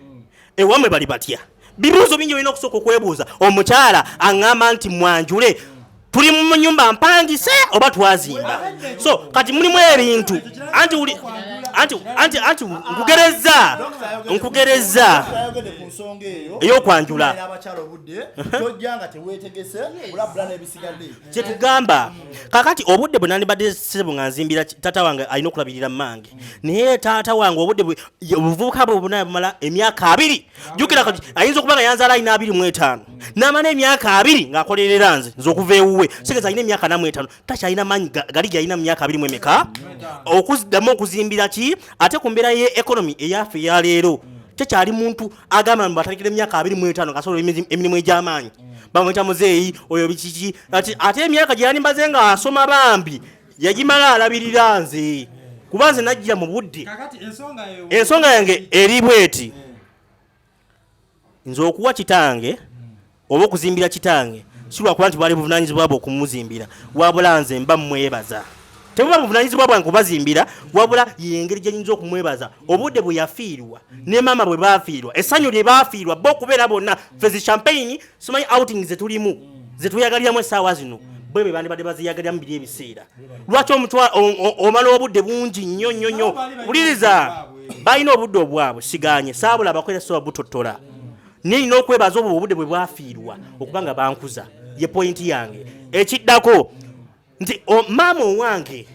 ewamwe bali batya bibuuzo bingi olina okusooka okwebuuza omukyala aŋŋamba nti mwanjule tuli mu nyumba mpangise oba twazimba so kati mulimu ebintu anti uli anti anti anti nkugerezza nkugerezza eyokwanjula kyetugamba kakati obudde bwe nandibadde sebo nga nzimbira taata wange alina okulabirira mange naye taata wange obudde obuvubuka bwe buna bumala emyaka abiri jukira kati ayinza okuba nga yanzaala alina abiri mu etaano n'amala emyaka abiri ng'akolerera nze nze okuva ewuwe sigeza alina emyaka namu etaano taki alina maanyi gali gyalina mu myaka abiri mu emeka okuddamu okuzimbira ki ate ku mbeera ye ekonomi eyaffe eyaleero tekyali muntu agamba mbu atandikira emyaka abiri mu etaano ngasobola emirimu egy'amaanyi bamuyita muzeeyi oyo bikiki ate emyaka gye yalimbaze nga asoma bambi yagimala alabirira nze kuba nze najjira mu budde ensonga yange eri bweti nze okuwa kitange oba okuzimbira kitange si lwakuba nti bwali buvunaanyizibwa bwe okumuzimbira wabula nze mba mmwebaza tebuba buvunaanyizibwa bwange kubazimbira wabula yengeri gye nyinza okumwebaza obudde bwe yafiirwa ne maama bwe baafiirwa essanyu lye baafiirwa bo okubeera bonna fe zi champagne simanyi outing ze tulimu ze tweyagaliramu essaawa zino bwe be bandibadde baziyagaliramu biri ebiseera lwaki omutwa omala obudde bungi nnyo nnyo nnyo wuliriza balina obudde obwabwe siganye saabula abakozesa obutottola naye nina okwebaza obwo obude bwe bwafiirwa okuba nga bankuza ye pointi yange ekiddako nti maama owange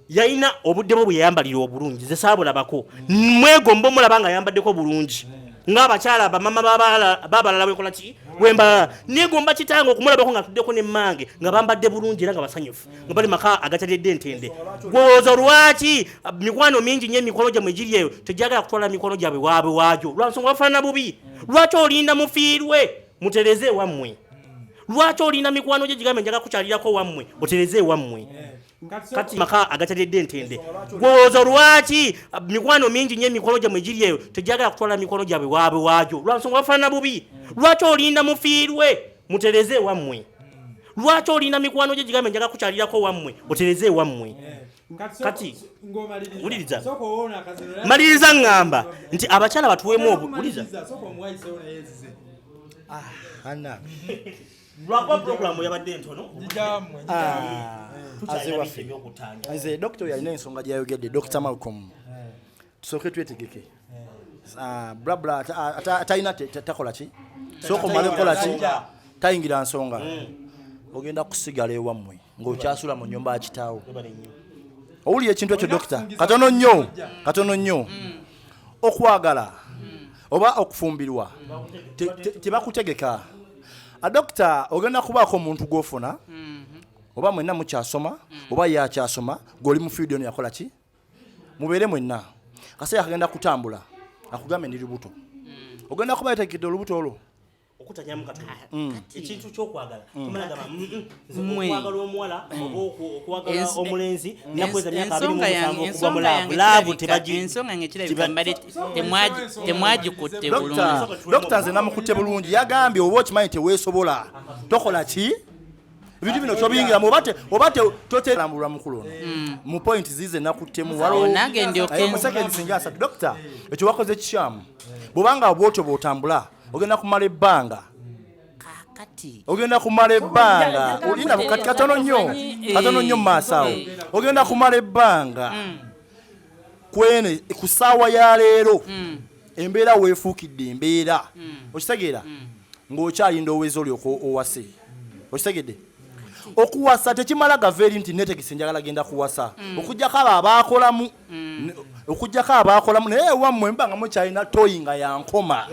yalina obudde bwe bweyayambalira obulungi ze saabulabako mwegomba omulaba nga ayambaddeko bulungi ngaabakyala bamama babalala wekola ki wembalala negomba kitange okumulabako nga atuddeko nemmange nga bambadde bulungi era nga basanyufu nga bali maka agatalidde ntende gwooza lwaki ah, mikwano mingi nyo emikolo gyamwe giri eyo tegyagala kutwala mikolo gyabwe waabwe waagyo lwansonga bafaanana bubi lwaki olinda mufiirwe mutereze ewammwe lwaki olinda mikwano gye gigambe njaga kukyalirako wammwe otereze ewammwe kati maka agatalidde ntende gwooza lwaki ah, mikwano mingi nyo emikolo gyamwe giri eyo tegyagala kutwala mikolo gyabwe waabwe waagyo lwansonga bafaanana bubi lwaki olinda mufiirwe mutereze ewammwe lwaki olinda mikwano gye gigambe njaga kukyalirako wammwe otereze ewammwe kati wuliriza maliriza ŋŋamba nti abakyala batuweemu obuwuliriza lwakuba puroguramu yabadde ntono ah, nze dokita yalina ensonga gyeyayogedde dokita malcom tusooke twetegeke ah, blabla atalina takola ki sooka omale kukola ki tayingira nsonga hmm. ogenda kusigala ewammwe ng'okyasula mu nyumba akitaawo owulira ekintu ekyo dokita katono nnyo katono nnyo hmm. okwagala hmm. oba okufumbirwa tebakutegeka ah, dokita ogenda kubaako omuntu gwofuna oba mwenna mukyasoma oba yakyasoma gweoli mu fiidi ono yakola ki mubeere mwenna kaseera kagenda kutambula akugambe ndi lubuto hmm. ogenda kuba yategedde olubuto olwo okutanyamu katono ah, hmm. ekintu kyokwagala hmm. kumalagamba okwagala omuwala okwagala omulenzi nakweza myaka abiri mumusanvu okuva mu laavu laavu tebagiensonga ngekirabikambale temwagikutte bulungi dokita nze namukutte bulungi yagambye oba okimanyi teweesobola tokola ki ebintu bino kyobiyingiramu oba tokyerambulwa mukulu ono mm. mu point zize nakuttemu walomusecond singa asatu dokita ekyo wakoze kikyamu bwobanga bwotyo bwotambula ogenda kumala ebbanga ogenda kumala ebbanga olina katono nnyo katono nnyo mu maaso awo eh. ogenda kumala ebbanga mm. kweno ku saawa ya leero mm. embeera weefuukidde embeera mm. okitegeera mm. ng'okyalinda oweza oli owase okitegedde okuwasa tekimala gava eri nti netegese njagala genda kuwasa mm. okujjako abo abaakolamu mm. okujjako abaakolamu naye ewammwe mba nga mukyalina toyi nga yankoma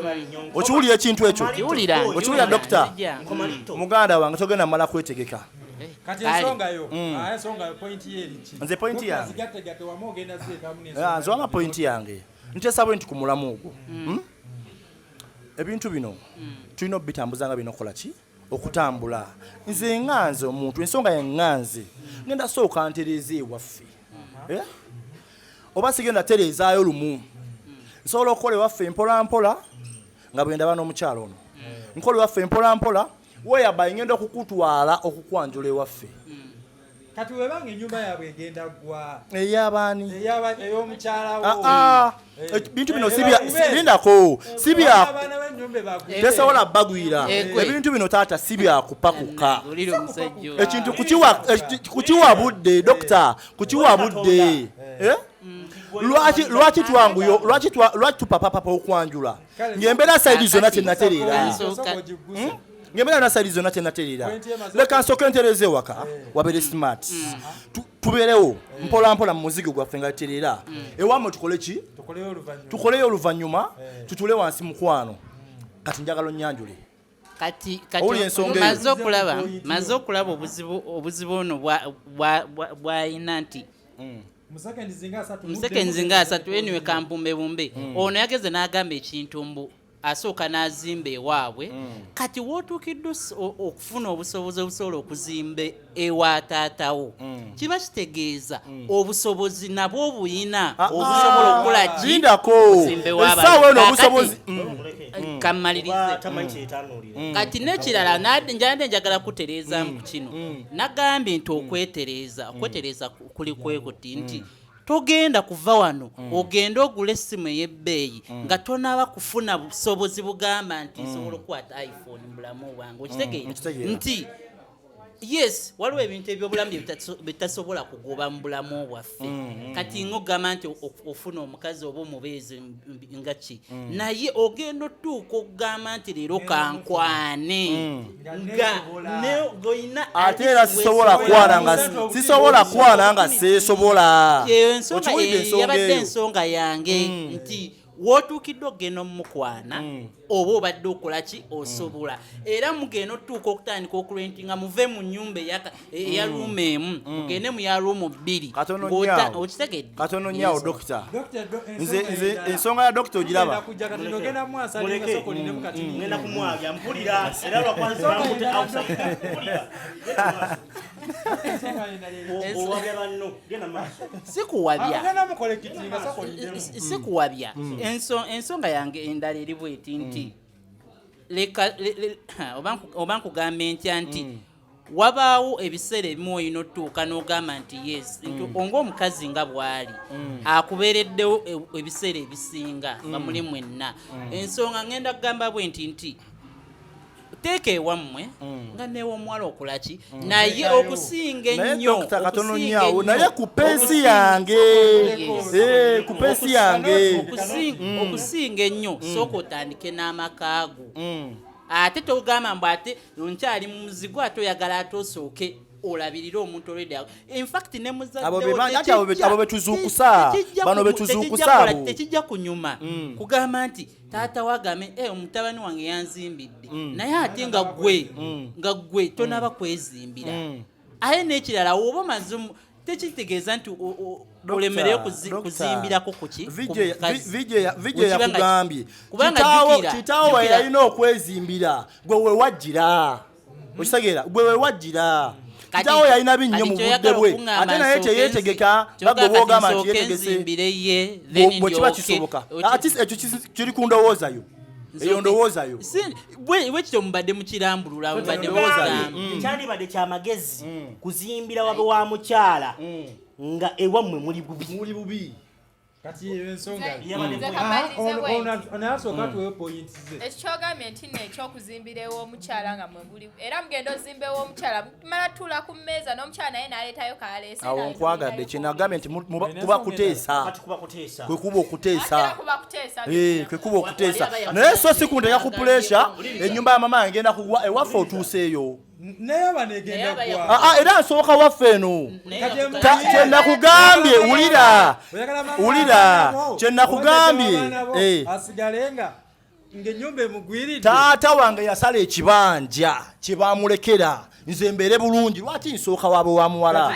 okiwulira ekintu ekyo okiwulira dokita muganda wange togenda mala kwetegeka Eh, kati ensonga yo mm. ah, ensonga yo point ye eriki nze point yange zigategate wamu ogenda ziyetamu n'ensonga ah, nze wama point yange nteesa bwe nti ku mulamu ogwo mm. hmm? ebintu bino mm. tulina okubitambuza nga birina okukola ki okutambula nze nga nze omuntu ensonga ye nga nze ngenda sooka ntereeza ewaffe uh-huh. eh? oba sigenda tereezaayo lumu nsobola okukola ewaffe mpolampola nga bwe ndaba n'omukyalo ono nkola ewaffe mpolampola whereby ngenda okukutwala okukwanjula ewaffe hmm. kati webanga enyumba yabwe egenda gwa eyabaani eyomukyalawo ah, ah. eh. eh, bintu bino sibindako eh, sibyatesobola bagwira ebintu bino taata sibyakupakuka ekintu kukiwa budde dokita kukiwa budde mm. lwaki twanguyo lwaki tupapapapa okwanjula ng'embeera sayidi zonna kyenatereera hmm? ng'embeera na sayidi zonna kyenatereera leka nsooke ntereeza ewaka eh. wabeere smart hmm. tubeerewo eh. mpola mpola mu muzigo gwaffe nga tereera hmm. ewamwe tukole ki tukoleyo oluvannyuma eh. tutule wansi mukwano kati njagala onnyanjule kati maze okulaba maze okulaba obuzibu obuzibu ono bwayina nti musekenzi nga asatu eniwe kampumbe bumbe hmm. ono yageze n'agamba ekintu mbu asooka n'azimba ewaabwe hmm. kati wootuukiddwa okufuna obusobozi obusobola okuzimba ewa taatawo hmm. kiba kitegeeza obusobozi nabwo obuyina ah, ah. obusobola okukola kiindako esaawa eno obusobozi kammalirize mm. kati nekirala njande njagala kutereezamu mm. ku kino mm. nagambye nti okwetereeza okwetereeza kuli kwekuti nti mm. togenda kuva wano mm. ogende ogula essimu ey'ebbeeyi mm. nga tonaaba kufuna busobozi bugamba nti nsobola okukwata iphone mu bulamu bwange okitegeera nti yes waliwo ebintu ebyobulamu byebitasobola kugoba mu bulamu bwaffe mm, mm, mm. kati ngogamba nti ofuna omukazi oba omubeezi nga ki naye ogenda otuuka okugamba nti leero kankwane ate era sisobola kwana nga sisobola kwana nga seesobola yabadde ensonga yange hmm. nti wotuukidde okugenda omumukwana hmm. oba obadde okolaki osobola hmm. era mugenda otutuuka okutandika okurentinga muve mu nyumba eyaka eya mm. ruumu emu mm. ogende mu ya ruumu bbiri okitegedde katono nyawo dokita nze ensonga ya dokita ogiraba sikuwabya mm. ensonga yange endala eri bweti nti leka oba nkugambe ntya nti wabaawo ebiseera ebimu olina otutuuka n'ogamba nti yes nti mm. onga omukazi nga bw'ali mm. akubeereddewo e, ebiseera ebisinga mm. nga muli mwenna ensonga ngenda kugamba bwe nti nti teeka ewammwe mm. nga newomuwala okolaki mm. naye okusinga ennyonaye ku pensi yange eh, ku pensi yange mm. okusinga ennyo sooka otandike n'amakaago ate togamba mbu ate nkyali mu muzigo ate oyagala ate osooke olabirire omuntu olwedde infact ne muzaddeabo betuzuukusa bano betuzuukusa tekijja kunyuma mm. kugamba nti taata wagame e eh, omutabani wange yanzimbidde mm. naye ate nga gwe mm. nga gwe tonaba kwezimbira aye n'ekirala woba omaze tekitegeeza nti olemereyo kuzimbirako kukivijeyakugambye kitaawo weyalina okwezimbira gwe wewajjira mhm. okitegeera gwe wewajjira kitaawo yalina binnyo mu budde bwe ate naye teyetegeka bagwe bwogamba nti yetegese bwekiba kisoboka ekyo kiri ku ndowooza yo eyo ndowooza yo bwekityo mubadde mukirambulula mubadde mm. kyandibadde kyamagezi mm. kuzimbira wabe wa mukyala mm. nga ewammwe muli bubi kati eyo ensonga anasooka tuweyo poyinti ze ekikyogambye nti no ekyokuzimbira ew'omukyala nga mwebuli era mugenda ozimba ew'omukyala tumala tula ku mmeeza n'omukyala naye n'aleetayo kaleese awo nkwagadde kyenagambye nti kuba kuteesa kwe kuba okuteesa eh, kwe kuba okuteesa naye so si kunteka ku puleesha ennyumba ya mama ngenda kugwa ewaffe otuuseeyo Ah, ah, era nsooka waffe eno kyenakugambye wulira wulira kyenakugambye eh. taata wange yasala ekibanja kyebamulekera nze mbeere bulungi lwaki nsooka waaba wa muwala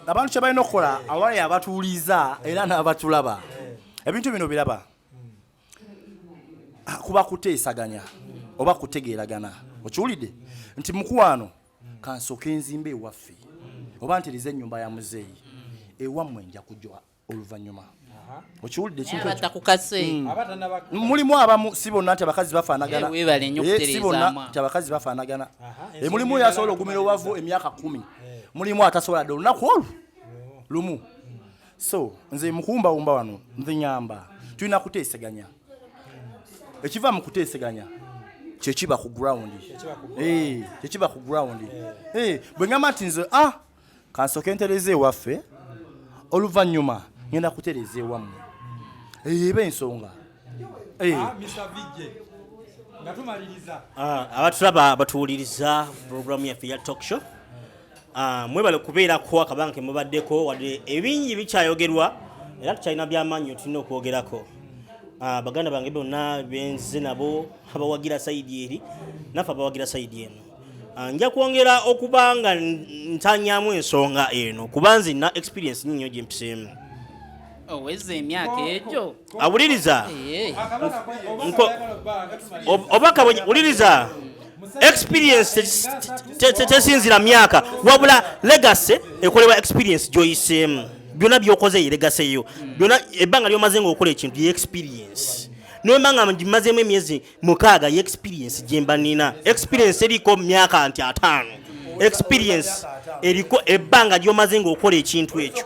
abantu kyebalina okukola awali abatuuliza era n'abatulaba eh. ebintu bino biraba ah, kuba kuteesaganya oba kutegeeragana okiwulidde nti mukwano kansoke enzimba ewaffe oba ntereza ennyumba ya muzeeyi ewammwe nja kujwa oluvannyuma okiwulidde ekinmulimu hmm. abamu si bonna nti abakazi bafaanagana si bonna nti abakazi bafaanagana mulimu oyo asobola okugumira owavu emyaka kumi mulimu atasobola dde olunaku olwo lumu so nze mukuwumbawumba wano nze nyamba tulina kuteeseganya ekiva mu kuteeseganya kyekiba ku ground kyekiba ku ground eh. eh, bwe ngamba nti nze ah kansooke ntereza ewaffe oluvannyuma ngenda kutereza ewammwe eyo eba ensonga Hey. Eh. Ah, Mr. VJ. Nga tumaliriza. Ah, abatulaba batuwuliriza program yaffe ya talk show. Ah, mwebale kubeera ko akabanga ke mubaddeko wadde ebingi bikyayogerwa era tukyalina byamaanyi tulina okwogerako. Ah, baganda bange bonna benze nabo abawagira sayidi eri naffe abawagira sayidi eno. Ah, nja kwongera okuba nga ntanyamu ensonga eno kuba nzina experience nyinyo gyempiseemu. Oweza oh, emyaka egyo. awuliriza oba kabonye wuliriza experience tesinzira myaka wabula legacy ekolebwa experience gyoyiseemu byonna byokoze ye legacy yo byonna ebbanga lyomaze nga okola ekintu ye experience nomba nga ngimazemu emyezi mukaaga ye experience gyemba nina experience eriko myaka nti ataano experience eriko ebbanga lyomaze nga okola ekintu ekyo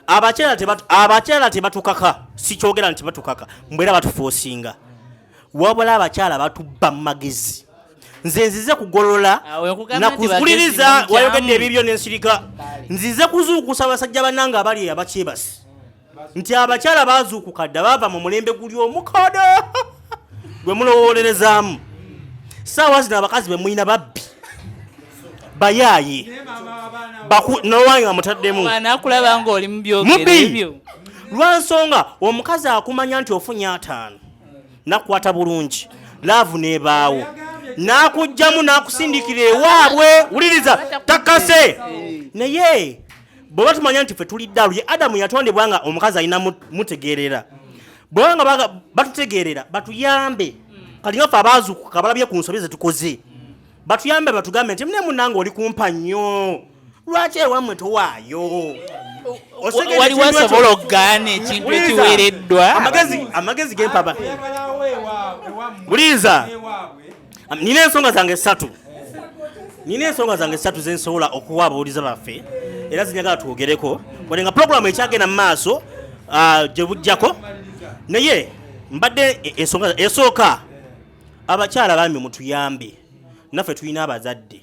abakyala tebatukaka sikyogera nti batukaka mbwera batufosinga wabula abakyala batubba mu magezi nze nzize kugolola ah, nakuwuliriza wayogedde ebibyo nensirika nzize kuzuukusa abasajja banange abali eyo abakyebasi nti abakyala bazuukuka dda baava mu mulembe guli omukada gwe mulowolerezaamu saawa zino abakazi bemulina babbi bayaaye nowange amutaddemu nakulaba ngaoli mubyogeraebyo lwansonga omukazi akumanya nti ofunye ataano nakukwata bulungi laavu nebaawo nakujjamu nakusindikira ewaabwe wuliriza takase naye bweba tumanya nti fe tuli ddalu ye adamu yatondebwa nga omukazi alina mutegeerera bweba nga batutegeerera batuyambe kati nga fe abaazukuka balabye ku nsobi zetukoze batuyambe batugambe nti mune munange oli kumpa nnyo lwaki ewamwe towaayo waliwo asobola okugaana ekintu ekiwereddwa amagezi gempaba buliiza nina ensonga zange satu nina ensonga zange satu zensobola okuwa abawuliza baffe era zinyagala twogereko wade nga puroguramu ekyagenda mu maaso ah, gye bujjako naye mbadde e, ensonga esooka abakyala bambi mutuyambe naffe tulina abazadde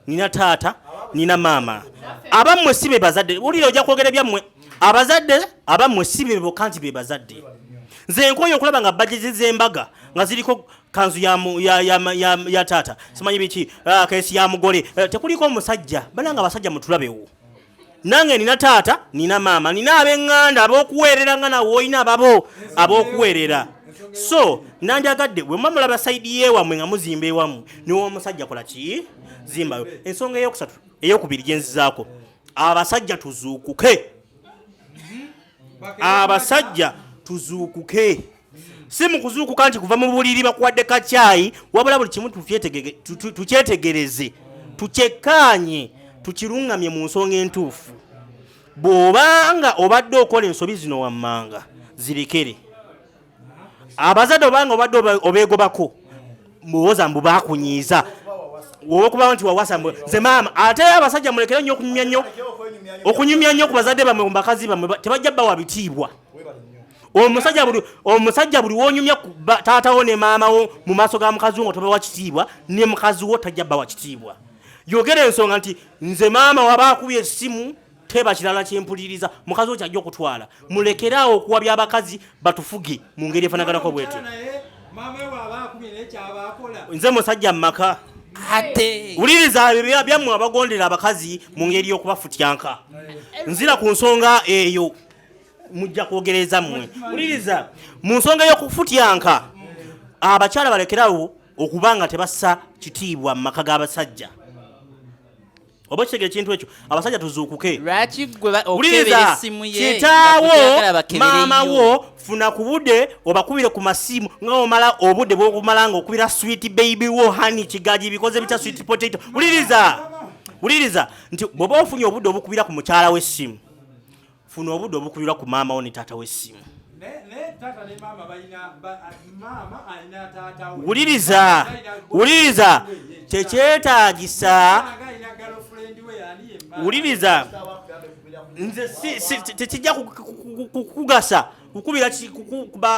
nina taata nina maama abammwe si bebazadde wulira ojja kwogera byammwe abazadde abammwe si beboka nti bebazadde nze nkoyo okulaba nga bajeti zembaga nga ziriko kanzu ya, ya, ya, ya, ya taata simanyi biki ah, kesi ya mugole eh, tekuliko omusajja bananga abasajja mutulabewo nange nina taata nina maama nina abenganda abokuweerera nga nawe olina ababo abokuweerera so nandyagadde wemamulaba saidi yewamwe nga muzimba ewamu niwe omusajja kola ki zimbayo ensonga eyokusatu eyokubiri gyenzizaako abasajja tuzuukuke abasajja tuzuukuke si mu kuzuukuka nti kuva mu buliri bakuwadde kakyayi wabula buli kimu tukyetegereze tukyekkaanye tukiruŋŋamye mu nsonga entuufu bw'oba nga obadde okola ensobi zino wammanga zirekere abazadde oba nga obadde obeegobako muwoza mbu bakunyiiza wokubawo nti wawasa mbu nze maama ate abasajja mulekere nnyo okunyumya nnyo okunyumya nnyo ku bazadde bamwe mu bakazi bamwe tebajja bawa bitiibwa omusajja buli omusajja buli wonyumya taata wo ne maama wo mu maaso ga mukazi wo nga tobawa kitiibwa ne mukazi wo tajja bawa kitiibwa yogera ensonga nti nze maama waba akubye essimu teba kirala kyempuliriza mukazi wo kyajja okutwala mulekeraawo okuwa byabakazi batufuge mu ngeri efanaganako bwetyo nze musajja mu maka wuliriza ebyo byammwe abagondera abakazi mu ngeri y'okubafutyanka nzira ku nsonga eyo mujja kwogereza mmwe wuliriza mu nsonga y'okufutyanka abakyala balekerawo okuba nga tebassa kitiibwa mu maka g'abasajja oba okitegera ekintu ekyo abasajja tuzuukuke lwaki gwe ba- okebera wuliriza essimu ye nga kitaawo tokyagala bakebere maama yo? wo funa ku budde obakubire ku masimu nga omala obudde bwokumala nga okubira swit baby wo hani kigaji bikoze bitya swit potato wuliriza wuliriza nti bw'oba ofunye obudde obukubira ku mukyala w'essimu funa obudde obukulira ku maama wo ne taata w'essimu wuliriza wuliriza tekyetagisa wuliriza nze tekijja kukugasa kukubira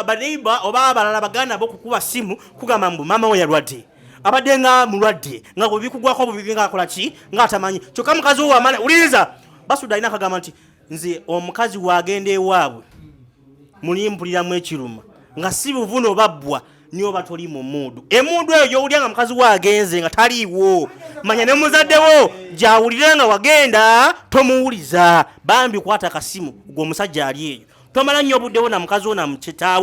baneiba oba abalala baganda bo kukuba simu kugamba mbu maama we yalwadde abadde nga mulwadde nga bwebikugwako bubibi nga akola ki nga atamanyi kyokka mukazi wo wamala wuliriza basuda alina akagamba nti nze omukazi wagenda ewaabwe mulimpuliramu ekiruma nga si buvuno babbwa niyo oba toli mu muudu emundu eyo gyowulira nga mukazi wagenze nga taliiwo manya ne muzaddewo gyawulire nga wagenda tomuwuliza bambi kwata kasimu gwe omusajja ali eyo tomala nnyo obuddewo na mukazi wo na mukitaawo